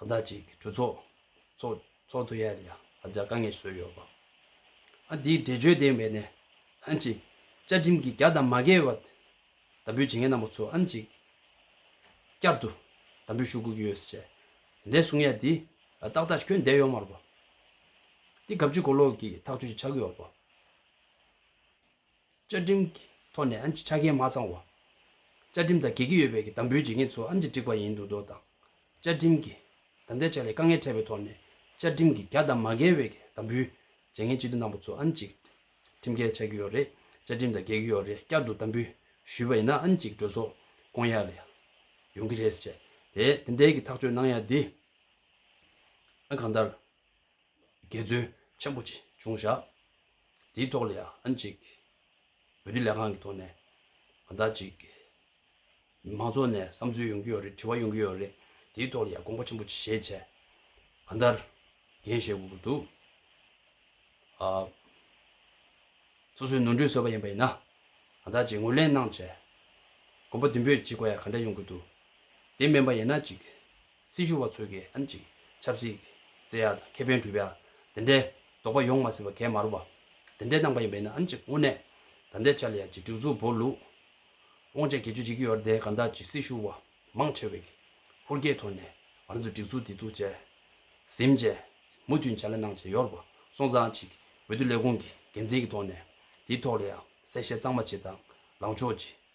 ཟླ་གཅིག་གྲོས་ཚོགས་ཚོགས་འདུ་ཡར་རྒྱག་དཀའ་ངལ་བཟོས་ཡོད་པ། དེའི་འགྲེལ་བརྗོད་ལྡན་པའི་ནས་ཧན་གྱི་བཅའ་ཁྲིམས་ཀྱི་རྒྱ་དང་མ་འགལ་བ་དམ་འབུལ་བྱེད་མཁན་རྣམས་པ་ཚོ་ཨམ་གཅིག་བསྐྱར་དུ་དམ་འབུལ་ཞུ་དགོས་ཀྱི་ཡོད་ཟེར་བྱས། འདས་གསུང་ཡ་དེ་ཏག་ཏག་ཁྱོན་འདས་ཡོང་མར་པོ། དེ་གབ་ཆུ་གོ་ལོག་གི་ཐག་གཅོད་ཅིག་ཆགས་ཀྱི་ཡོད་པོ། བཅའ་ཁྲིམས་ཀྱི་ཐོག་ནས་ཨམ་ཅི་ཆ་རྐྱེན་མ་ཚང་བ། བཅའ་ཁྲིམས་དང་འགལ་གྱི་ཡོད་པའི་གྱི་དམ་འབུལ་བྱེད་མཁན་ཚོ་ཨམ་ཅི་འགྲིག་པ་ཡིན་འདུག་མདོག་དང། བཅའ་ཁྲིམས་ཀྱི་དམ་བསྡད་བྱ་ལས་དཀའ་ངལ་འཕྲད་པའི་ཐོག་ནས་བཅའ་ཁྲིམས་ཀྱི་གྱ་དང་མ་འགལ་བའི་གྱི་དམ་འབུལ་བྱེད་མཁན་སྤྱི་འཐུས་རྣམ་པ་ཚོ་ཨམ་ཅིག་ཁྲིམས་འགལ་ཆགས་ཀྱི་ཡོད་རེད་བཅའ་ཁྲིམས་དང་འགལ་གྱི་ཡོད་རེད་བསྐྱར་དུ་དམ་འབུལ་ཞུས་པ་ཡིན་ན་ཨམ་ཅིག་གྲོས་ཚོགས་བསྐོང་ཡག་ལས་ཡོང་གྱི་རེད་ཟེར་བྱས་རེད་དེ་འདྲའི་གྱི་ཐག་གཅོད་གནང་ཡག་དེ་ཨ་གང་ལྟར། འགལ་འཛོལ་ཆེན་པོ་ཅི་བྱུང་བཞག་དེའི་ཐོག་ལ་ཡང་གཅིག་བོད་རིགས་ལས་ཁང་གི་ཐོག་ནས་གང་དག་ཅིག་མང་ཚོགས་ནས་བསམ་ཚུལ་ཡོང་གི་ཡོད་རེད་དྲི་བ་ཡོང་གི་ཡོད་རེད་དེའི་ཐོག་ལ་ཡང་དགོངས་པ་ཆེན་པོ་ཅི་བཞེས་བྱས་གང་ལྟར་འགན་བཞེས་དགོས་ཀྱི་འདུག་ཨ། སོ་སོའི་ནོར་འཁྲུལ་བཟོས་པ་ཡིན་པ་ཡིན་ན་གང་དག་ཅིག་ངོས་ལེན་གནང་བྱས་དགོངས་པ་བདུན་པོས་ཅི་དགོས་ཡ་ག་འདྲ་ཡོང་གི་འདུག་དེ་མིན་པ་ཡིན་ན་ཅིག་སྲི་ཞུ་བ་ཚོས་ཀྱི་ཨན་ཅི། ཆབ་སྲིད། རྩེ་ཡག་དང་ཁེ་ཕན་སྒྲུབ་ཡག། དེ་འདྲའི། དོགས་པ་ཡོང་མ་སྲིད་པ་གད་མར་བ། དེ་འདྲའི་རྣམ་པ་ཡིན་པ་ཡིན་ན་ཨན་ཅི་དངོས་གནས། ད་ལྟའི་ཆར་ལ་ཡ་ཅི་སྒྲིག་འཛུགས་བོར་ལུགས། དབང་ཆ་གྱེས་འཇོག་བྱེད་ཀྱི་ཡོད་རེད་དེ་ག་འདྲ་ཅི་སྲི་ཞུ་བ། མང་ཆེ་བས། ཧུར་བསྐྱེད་ཐོག་ནས། ང་ཚོས་སྒྲིག་འཛུགས་འདི་ཚུགས་བྱས། གཟིམ་བྱས། མུ་མཐུད་ཇ་ལེ་གནང་བྱས་ཡོད་རེད་པ། སོང་ཙང་ཅིག། འོས་བསྡུ་ལས་ཁུངས་ཀྱི་འགན་འཛིན་གྱི་ཐོག་ནས། དེའི་ཐོག་ལ་ཡང། གསལ་བཤད་གཙང་མ་བྱེད་དང། ལངས་ཕྱོགས་ཅི།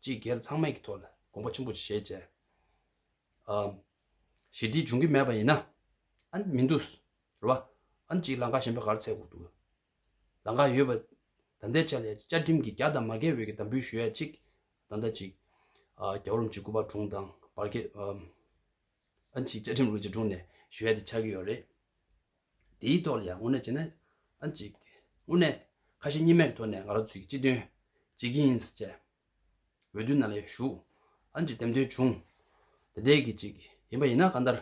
སྤྱི་སྒེར་ཚང་མས་ཀྱི་ཐོག་ལ་དགོངས་པ་ཆེན་པོ་བཞེས་བྱས། ཞི་བདེ་འབྱུང་གི་མེད་པ་ཡིན་ན་མི་འདུག་རེད་བ། གཅིག་ལང་ཀ་གཞན་པའི་གར་ཚད་འགུག་འདུག། ལང་ཀ་ཡོད་པ་ད་ལྟའི་ཆ་ལས་བཅའ་ཁྲིམས་ཀྱི་རྒྱ་དང་མ་འགལ་བའི་གྱི་དམ་འབུལ་ཞུ་ཡ་གཅིག་ད་ལྟ་གཅིག། རྒྱ་བོར་འཇིགས་སྐུལ་བ་དྲུང་དང་བར་བརྒལ། ཨ་མཆིས་བཅའ་ཁྲིམས་ལོ་བརྒྱད་དྲུག་ནས་གཞོལ་ཏེ་ཆགས་ཀྱི་ཡོད་རེད། དེའི་ཐོག་ལ་ཡང་དངོས་གནས་བྱས་ན། ཨ་མཆིས། དངོས་གནས། ཁ་ཞེ་གཉིས་མེད་ཀྱི་ཐོག་ནས་ང་རང་ཚོའི་སྤྱི་དོན། བྱེད་ཀྱི་ཡིན། བཅས། འོས་བསྡུའི་ནང་ལ་ཡང་ཞུགས། ཨ་མཆིས་འདེམས་ཐོན་བྱུང། དེ་འད་གི་ཅིག་ཡིན་པ་ཡིན་ན་ག་འདར།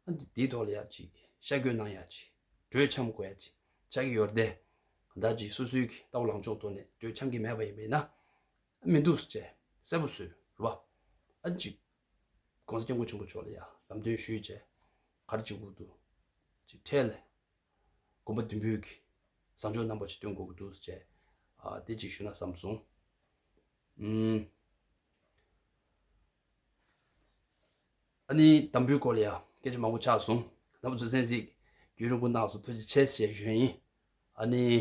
ཨ་མཆིས་དེའི་ཐོག་ལ་ཡང་ཅིག་ཤ་བཀོད་གནང་ཡང་ཅིག་གྲོས་འཆམ་དགོས་ཡང་ཅིག་ཆགས་ཀྱི་ཡོད་རེད། གདའ་ཅིག་སོ་སོའི་ཀྱི་ལྟ་བ་ལངས་ཕྱོགས་ཐོག་ནས་གྲོས་འཆམ་གྱི་མེད་པ་ཡིན་པ་ཡིན་ན། མི་འདུག་བཅས་གསལ་པོ་བཟོས་རོགས། ཨ་མཆིས། ྋགོང་ས་སྐྱབས་མགོན་ཆེན་པོ་མཆོག་ལ་ཡང་ལམ་སྟོན་ཞུས་རྗེས། གར་གཅིག་འུར་དུ་གཅིག་འཕྲལ་ནས། དགོན་པ་བདུན་འབུལ་གྱི་བཟང་ཕྱོགས་རྣམ་པ་ཅིག་སྟོན་དགོས་ཀྱི་འདུག་ཅེས་དེ་གཅིག་ཞུས་ན་བསམ་སོང། ཨ་ནེའི་དམ་འབུལ་སྐོར་ལ་ཡང་སྐད་ཆ་མང་པོ་ཆགས་སོང། ནང་པ་ཚོས་གསན་གཟིགས་རྒྱུའི་རིན་གོང་གནང་སོང་ཐུགས་རྗེ་ཆེ་ཞེས་ཞུས་ཡིན། ཨ་ནེའི།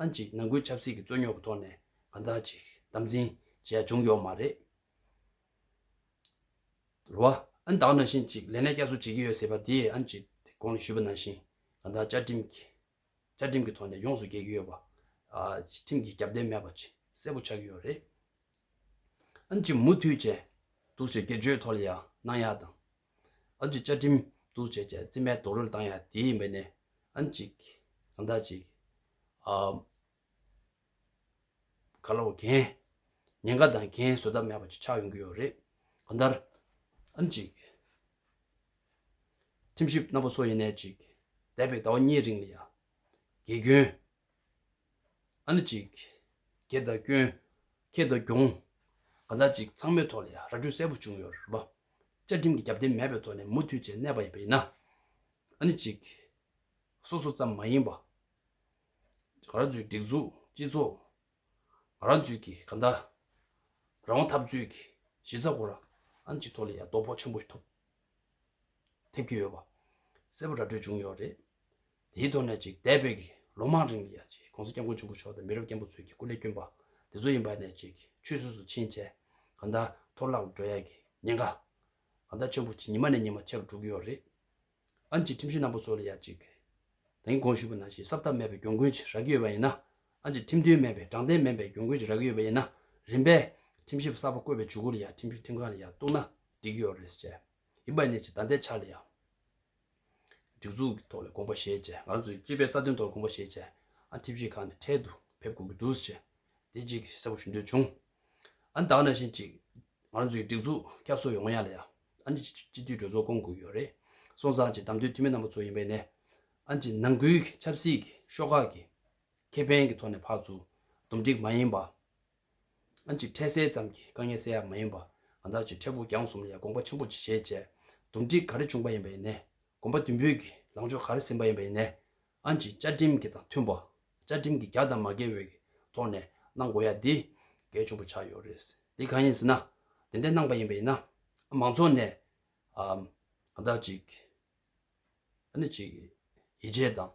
ཨང་གཅིག་ནང་ཁུལ་ཆབ་སྲིད་ཀྱི་རྩོད་རྙོག་གི་ཐོག་ནས་གང་དག་ཅིག་དམ་འཛིན་བྱས་བྱུང་ཡོག་མ་རེད། རེད་བ། ཨང་དག་ན་བཞིན་གཅིག་ལས་ནས་བསྐྱར་གསོ་བྱེད་ཀྱི་ཡོད་ཟེར་བ་དེ་ཨང་གཅིག་དེ་གོང་ལ་ཞུས་པ་ནང་བཞིན་གང་དག་བཅའ་ཁྲིམས་ཀྱི་བཅའ་ཁྲིམས་ཀྱི་ཐོག་ནས་ཡོངས་སུ་འགལ་གྱི་ཡོད་པ། ཁྲིམས་ཀྱི་རྒྱབ་རྟེན་མེད་པ་ཆེས་གསལ་པོ་ཆགས་ཀྱི་ཡོད་རེད། ཨང་གཅིག་མུ་མཐུད་བྱས་འདུག་ཅེས་སྒེར་གཅོད་ཐོག་ལ་ཡང་གནང་ཡག་དང། ཨ་ཅིག་བཅའ་ཁྲིམས་གཏུག་བྱས་ཀྱང་རྩིས་མེད་རྡོག་རོལ་བཏང་ཡང་དེའི་ཡིན་པ་ནས་ཨ་ཅིག་ཨ་མདའ་ཅིག། ཨ་ཁ་ལོ་གན། ཉེན་ཁ་དང་གན་བཟོད་ཐབས་མེད་པ་ཅིག་ཆགས་ཡོང་གི་ཡོད་རེད། གང་ལྟར། ཨ་ཅིག། ཁྲིམས་ཞིབ་རྣམ་པ་སོགས་ཡིན་ནའི་ཅིག་འདས་པའི་ཟླ་བ་གཉིས་རིང་ལ་ཡང། དགེ་སྐྱོན། ཨ་ནི་ཅིག། གྱེས་དང་སྐྱོན། ཁེས་དང་གྱོང། གང་ཟག་ཅིག་ཚང་མའི་ཐོག་ལ་ཡང་ར་སྤྲོད་གསལ་པོ་བྱུང་ཡོད་རེད། བཅའ་ཁྲིམས་ཀྱི་རྒྱབ་རྟེན་མེད་པའི་ཐོག་ནས་མུ་མཐུད་བཅས་གནས་པ་ཡིན་པ་ཡིན་ན། ཨ་ནི་ཅིག། སོ་སོ་ཙམ་མ་ཡིན་པ། རང་ཚུགས་སྒྲིག་འཛུགས་སྤྱི་ཚོགས། རང་ཚུགས་ཀྱི་གང་ཟག། རང་དབང་འཐབ་རྩོད་ཀྱི་གཞི་རྩ་སྐོར་ཨ་ནི་ཅིག་ཐོག་ལ་ཡང་དོ་ཕོག་ཆེན་པོ་ཐེབས་ཀྱི་ཡོད་པ་གསལ་པོ་ར་སྤྲོད་བྱུང་ཡོད་རེད། དེའི་ཐོག་ནས་ཅིག་འདས་པའི་ལོ་མང་རིང་ལ་ཡང་ཅིག ྋགོང་ས ྋསྐྱབས་མགོན་ཆེན་པོ་མཆོག་དང་མི་རབས་རྒན་པོ་ཚོས་ཀྱི་སྐུ་ལས་བསྐྱོན་པ་དེ་ཚོ་ཡིན་པ་ནས་ཅིག་ཆུད་ཟོས་སུ་ཕྱིན་རྗེས་གང་ལྟར་ཐོག་རླག་འགྲོ་ཡག་གི་ཉེན་ཁ་གང་ལྟར་ཆེན་པོ་ཅིག་ཉི་མ་ནས་ཉི་མ་ཆེ་རུ་འགྲོ་གི་ཡོད་རེད། ཨང་ཅིག་ཁྲིམས་གཞི་ནང་པ་ཚོ་ལ་ཡང་ཅིག་དེང་དགོངས་ཞུས་པ་ནང་བཞིན་གསབ་ཐབས་མེད་པའི་གྱོང་གུན་ཅིག་རག་གི་ཡོད་པ་ཡིན་ན་ཨང་ཅིག་ཁྲིམས་མཐུན་མིན་པའི་དྲང་བདེན་མིན་པའི་གྱོང་གུན་ཅིག་རག་གི་ཡོད་པ་ཡིན་ན་རིམ་པས་ཁྲིམས་ཞིབ་གསར་པ་བསྐོས་པའི་ཇུས་འགོད་ལ་ཡང་ཁྲིམས་ཞིབ་ཁྲིམས་ཁང་ལ་ཡང་གཏུགས་ན་འགྲིག་གི་ཡོད་རེད་ཟེར་བྱས་ཡིན་པ་ནས་ཅིག་ད་ལྟའི་ཆར་ལ་ཡང། སྒྲིག་འཛུགས་ཀྱི་ཐོག་ནས་དགོངས་པ་བཞེས་རྗེས་ང་ཚོས་སྤྱི་པའི་རྩ་དོན་ཐོག་དགོངས་པ་བཞེས་རྗེས། ཁྲིམས་ཞིབ་ཁང་ནས་འཕྲལ་དུ་ཕེབས་དགོས་ཀྱི་འདུག་ཅེས་བདེ་སྐྱིད་ཀྱིས་གསལ་པོ་ཞུ་འདོད་བྱུང། བདག་ནང་བཞིན་གཅིག། ང་ཚོ་ཡི་སྒྲིག་འཛུགས་བསྐྱར་གསོ་ཡོང་ངོ་ཡང་ལ་ཡང། སྤྱི་འཐུས་གྲོས་ཚོགས་བསྐོང་དགོས་ཀྱི་ཡོད་རེད། སོང་ཙང་གཅིག་བདམས་ཐོན་འཐུས་མི་རྣམ་པ་ཚོ་ཡིན་པས་ནས། ནང་ཁུལ་གྱི་ཆབ་སྲིད་ཀྱི་ཤོག་ཁག་གི་ཁེ་ཕན་གྱི་ཐོག་ནས་ཕར་ཚུར་འདུམ་འགྲིག་མ་ཡིན་པ། ཨ་ཅེ་འཕྲལ་སེལ་ཙམ་གྱིས་དཀའ་ངལ་སེལ་ཡག་མ་ཡིན་པ་ང་བདག་ཅེས་འཕྲལ་ཕུགས་རྒྱང་གསུམ་ལས་དགོངས་པ་ཆེན་པོ་ཅི་བྱེད་ཅེས་འདུམ་འགྲིག་ག་རེ་བྱུང་པ་ཡིན་པ་ཡིན་ནས་དགོངས་པ་བདུན་འབུལ་གྱི་ལངས་ཕྱོགས་ག་རེ་ཟིན་པ་ཡིན་པ་ཡིན་ནས་ཨ་ཅེས་བཅའ་ཁྲིམས་ཀྱི་དང་མཐུན་པ་བཅའ་ཁྲིམས་ཀྱི་རྒྱ་དང་མ་འགལ་བའི་ཐོག་ནས་གནང་དགོས་ཡ་དེ་གལ་ཆེན་པོ་ཆགས་ཡོད་རེད་དེ་གང་ཡིན་ཟེར་ན་དེ་འདྲས་གནང་པ་ཡིན་པ་ཡིན་ན་མང་ཚོགས་ནས་ང་བདག་ཅིག་ཡིད་ཆེས་དང་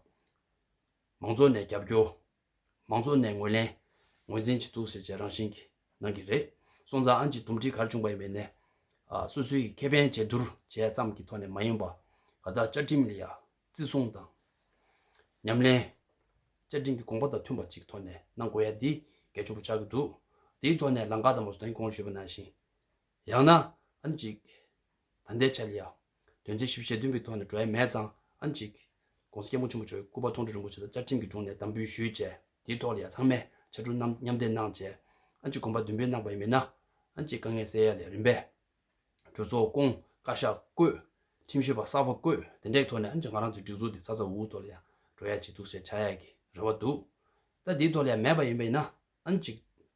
མང་ཚོགས་ནས་རྒྱབ་སྐྱོར། མང་ཚོགས་ནས་ངོས་ལེན། ངོས་འཛིན་བྱེད་ཐུབ་ཟེར་བྱས་རང་བཞིན་གྱིས་གནང་གི་རེད། སོང་ཙང་ཨན་གྱི་དུམ་སྒྲིལ་གར་བྱུང་པ་ཡིན་པའི་ནས། སོ་སོའི་གི་ཁེ་ཕན་བྱེད་བསྡུར་བྱས་ཙམ་གྱི་ཐོག་ནས་མ་ཡིན་པ། ག་དག་བཅའ་ཁྲིམས་ལ་ཡ། བརྩི་སྲུང་དང། ཉམས་ལེན། བཅའ་ཁྲིམས་ཀྱི་དགོངས་པ་དང་མཐུན་པ་ཅིག་ཐོག་ནས་གནང་དགོས་ཡ་འདི་གལ་ཆུང་པོ་ཆགས་ཀྱི་འདུག་དེའི་ཐོག་ནས་ལང་ཀ་དང་མོ་སོ་དན་གོང་ཞུས་པ་ནང་བཞིན། ཡང་ན། ཨན་ཅིག། ད་ལྟའི་ཆར་ཡང། དོན་ཚན་བཞི་བཞི་ཞེ་བདུན་གྱི་ཐོག་ནས་བགྲོ་ཡས་མེད་ཙང། ཨན་ཅིག། ྋགོང་ས་སྐྱེས་བུ་ཆེན་པོ་ཆོས་སྐུ་པ་ཐོང་ཁྲོ་རིན་པོ་ཆེ་ལ་བཅར་ཁྲིམས་ཀྱི་དྲུང་ནས་གདམས་འབུལ་ཞུས་བཅས་དེའི་ཐོག་ལ་ཡང་ཚང་མས་ཕྱག་དྲུག་རྣམས་མཉམ་འདེགས་གནང་བཅས། ཨན་ཅིག་དགོན་པ་བདུན་པའི་གནང་བའི་མི་སྣ། ཨན་ཅིག་དཀའ་ངལ་སེལ་ཡ་ལས་རིམ་པའི། གྲོས་ཚོགས་སྐོང། བཀའ་ཤག་བསྐོས། ཁྲིམས་ཞིབ་པ་གསར་བ་བསྐོས་དེ་འདྲའི་ཐོག་ནས་ཨན་ཅིག་ང་རང་ཚོའི་སྒྲིག་འཛུགས་འདི་ཚ་ཚ་འུར་འུར་ཐོག་ལ་ཡང་བགྲོ་ཡས་བྱེད་ཐུགས་བཞེད་བྱ་ཡས་ཀྱི་རེ་བ་འདུག། ད་དེའི་ཐོག་ལ་ཡང་མེད་པ་ཡིན་པས་ན། ཨན་ཅིག།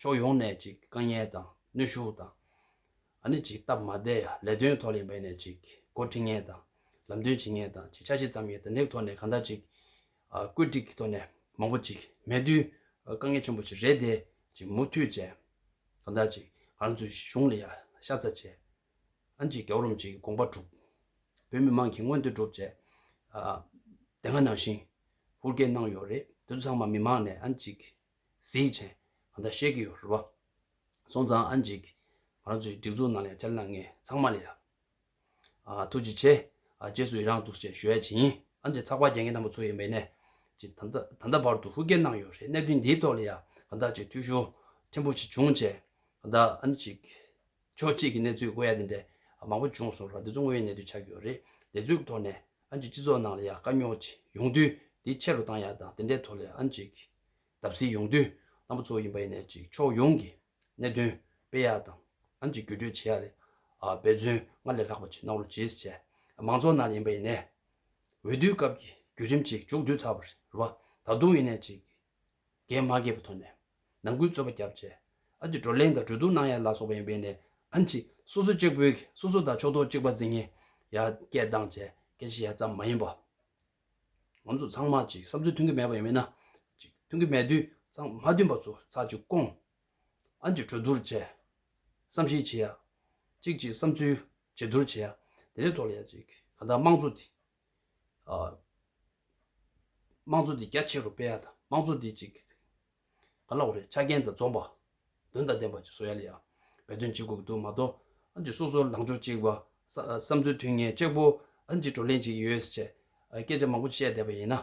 ཕྱོགས་ཡོངས་ནས་ཅིག་དཀའ་ངལ་དང་གནོད་ཤུགས་དང། ཨ་ནི་ཅིག་སྟབས་མ་བདེ་ཡ་ལས་དོན་ཐོག་ལས་འབད་ནས་ཅིག་འགོ་འཁྲིད་ངེས་དང། ལམ་སྟོན་བྱེད་ངེས་དང་ཅིག་ཆ་ཤས་ཙམ་ཡིན་དེ་འདེགས་ཐོག་ནས་གང་འདྲ་ཅིག། བཀོད་སྒྲིག་གི་ཐོག་ནས་མང་པོ་ཅིག་མེད་དུས་དཀའ་ངལ་ཆེན་པོ་ཞིག་རེད་དེ་ཅིག་མུ་མཐུད་བྱས། གང་འདྲ་ཅིག་ང་རང་ཚོའི་གཞུང་ལ་ཡ་ཤ་ཚ་བྱས། ཨ་ནི་ཅིག་རྒྱ་བོ་རུམ་ཅིག་དགོངས་པ་གྲུབ། བོད་མི་མང་གིས་མངོན་འདོད་སྒྲུབ་བྱས། དེ་སྔ་ནང་བཞིན་ཧུར་བསྐྱེད་གནང་ཡོད་རེད་དེ་ཚོ་ཚང་མ་མི་མང་ནས་ཨ་ནི་ཅིག་གཟིགས་བྱས། ང་ད་བཤད་ཀྱི་ཡོད་རེད་བ། སོང་ཙང་ཨ་འཇིགས། ང་རང་ཚོའི་སྒྲིག་འཛུགས་ནང་ལས་བྱ་ལ་ངས་ཚང་མ་ལས་ཡ། ཐུགས་རྗེ་ཆེ། རྗེས་སུ་ཡི་རངས་འདུག་ཅེས་ཞུ་ཡ་བྱིན། ཨ་འཇིགས་ཚགས་པར་རྒྱག་མཁན་དང་པོ་ཚོ་ཡིན་པའི་གནས། ཅེས་ད་ལྟ་བར་དུ་ཧུར་བསྐྱེད་གནང་ཡོད་རེད་གནད་དོན་འདིའི་ཐོག་ལས་ཡ་ང་ད་ཅིག་ཐུགས་ཞུ། ཕྲན་བུ་ཞིག་བྱུང་བྱས། ང་ད་ཨ་འཇིགས། ཕྱོགས་གཅིག་གི་གནས་ཚུལ་དགོས་ཡ་དེ་འདྲས་མང་པོ་བྱུང་སོང་ར་འདི་ཚོ་དངོས་ཡོད་གནས་ཚུལ་ཆགས་ཀྱི་ཡོད་རེད་དེ་ཚོའི་ཐོག་ནས་ཨ་མཆིས་སྤྱི་ཚོགས་ནང་ལ་ཡ་དཀའ་རྙོག་ཅིག་ཡོང་དུས་དེ་ཆེ་རུ་བཏང་ཡ་དང་དེ་འདྲའི་ཐོག་ལས་ཨ་མཆིས་བརྡབ་གསིག་ཡོང་དུས་རྣམ་པ་ཚོ་ཡིན་པ་ཡིན་ནས་ཅིག་ཕྱོགས་ཡོངས་ཀྱི་གནད་དོན་སྤེལ་ཡ་དང་ཨ་མཆིས་བརྒྱུད་སྤྲོད་བྱེད་ཡ་ལས་འབད་བརྩོན་སྔར་ལས་ལྷག་པ་ཅིག་གནང་རོགས་ཅིས་བྱས་མང་ཚོགས་ནང་ལ་ཡིན་པ་ཡིན་ནས་འོས་བསྡུའི་སྐབས་ཀྱི་བརྒྱུད་རིམ་ཅིག་མཇུག་བསྡུས་ཚར་བ་རེད་ད་དུང་ཡིན་ནས་ཅིག་རྒན་མ་རྒས་པ་ཐོན་ནས། ནང་ཁུལ་རྩོད་པ་རྒྱབ་རྗེས། ཨ་ཅེ་བགྲོ་གླེང་དང་གྲོས་བསྡུར་གནང་ཡ་ལ་སོགས་པ་ཡིན་པས་ནས། ཨ་ཅེ། སོ་སོ་གཅིག་པོའི། སོ་སོ་དང་ཕྱོགས་གཏོགས་གཅིག་པ་འཛིན་ངེས། ཡ། སྐད་གདངས་བཅས། སྐད་ཆ་ཡ་ཙམ་མ་ཡིན་པ། ང་ཚོ་ཚང་མ་གཅིག་བསམ་ཚུལ་མཐུན་གྱི་མེད་པ་ཡིན་མིན་ན། གཅིག་མཐུན་གྱི་མེད་དུས་ཚང་མ་མཐུན་པ་ཚོ་ཚགས་གཅིག་བསྐོང། ཨ་ཅེ་གྲོས་བསྡུར་བཅས། བསམ་ཤེས་བྱེད་ཡ། གཅིག་གཅིག་བསམ་ཚུལ། བརྗེ་བསྡུར་བྱེད་ཡ། དེ་ལས་ཐོག་ལ་ཡ་གཅིག། གང་ལྟར་དམངས་གཙོ་དེ། དམངས་གཙོ་དེ་རྒྱ་ཆེ་རུ་སྤེལ་ཡ་དང་དམངས་གཙོ་དེ་གཅིག་ག་ལ་འོ་རེད་ཆ་རྐྱེན་དང་འཛོམས་པ་དོན་དང་ལྡན་པ་བཅས་བཟོ་ཡ་ལ་ཡང་འབད་བརྩོན་བྱེད་དགོས་ཀྱི་འདུག་མ་གཏོགས་ཨང་ཅིག་སོ་སོར་ལངས་ཕྱོགས་གཅིག་པ། བསམ་ཚུལ་དུས་ངེས་གཅིག་པོ་ཨང་ཅིག་བགྲོ་གླེང་གཅིག་ཡོད་ཟེར་བཅས་སྐད་ཆ་མང་པོ་བཤད་བསྡད་པ་ཡིན་ན།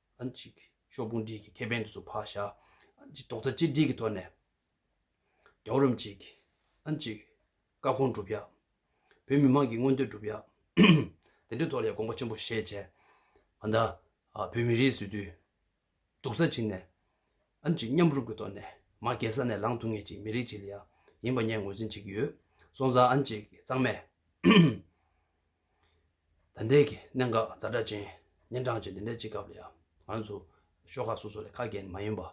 གཅིག། ཕྱོགས་ཕུང་སྒྲིལ་གྱི་ཁེ་ཕན་དུ་སུ་བག་བྱ། གཅིག། རྡོག་རྩ་གཅིག་སྒྲིལ་གྱི་ཐོག་ནས་རྒྱ་བོད་རིམ་གཅིག། གཅིག། བཀའ་དགོངས་སྒྲུབ་ཡག། བོད་མི་མང་གི་མངོན་འདོད་སྒྲུབ་ཡག། དེ་འདྲའི་ཐོག་ལ་ཡང་དགོངས་པ་ཆེན་པོ་བཞེས་བྱས། ད་ལྟ་བོད་མི་རིགས་སུ་དུས་སྡུག་ས་ཕྱིན་ནས། གཅིག། མཉམ་རུབ་ཀྱི་ཐོག་ནས་མ་རྒས་ས་ནས་ལངས་ཐུབ་ངེས་ཅིག་མི་རིགས་ཅིག་ལ་ཡང་ཡིན་པ་ངས་ངོས་འཛིན་བྱེད་ཀྱི་ཡོད། སོང་ཙང། གཅིག། གཙང་མས། ད་ལྟའི་གནད་འགག་རྫ་དྲ་ཅན། ཉིན་གྲངས་ཅན་དེ་འདྲའི་སྤྱི་ཁབ་ལ་ཡང། ང་ཚོ་ཤོག་ཁག་སོ་སོ་ལས་ཁ་གྱེས་ནས་མ་ཡིན་པར།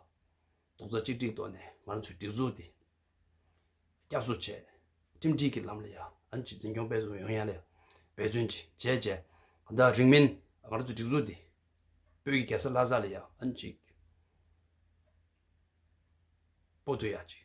རྡོག་རྩ་གཅིག་སྒྲིལ་ཐོག་ནས་ང་ཚོའི་སྒྲིག་འཛུགས་འདི། བསྐྱར་གསོ་བྱས། ཁྲིམས་སྒྲིག་གི་ལམ་ལ་ཡང་ཨན་ཅིག་འཛིན་སྐྱོང་སྤེལ་བཟོ་ཡོང་ཡ་ལས་འབད་བརྩོན་ཅིག་བྱས་རྗེས། ད་ལྟ་རིང་མིན་ང་ཚོའི་སྒྲིག་འཛུགས་འདི། བོད་ཀྱི་གེ་སར་ལྷ་ས་ལ་ཡང་ཨན་ཅིག། སྤོ་ཐུབ་ཡ་ཅིག།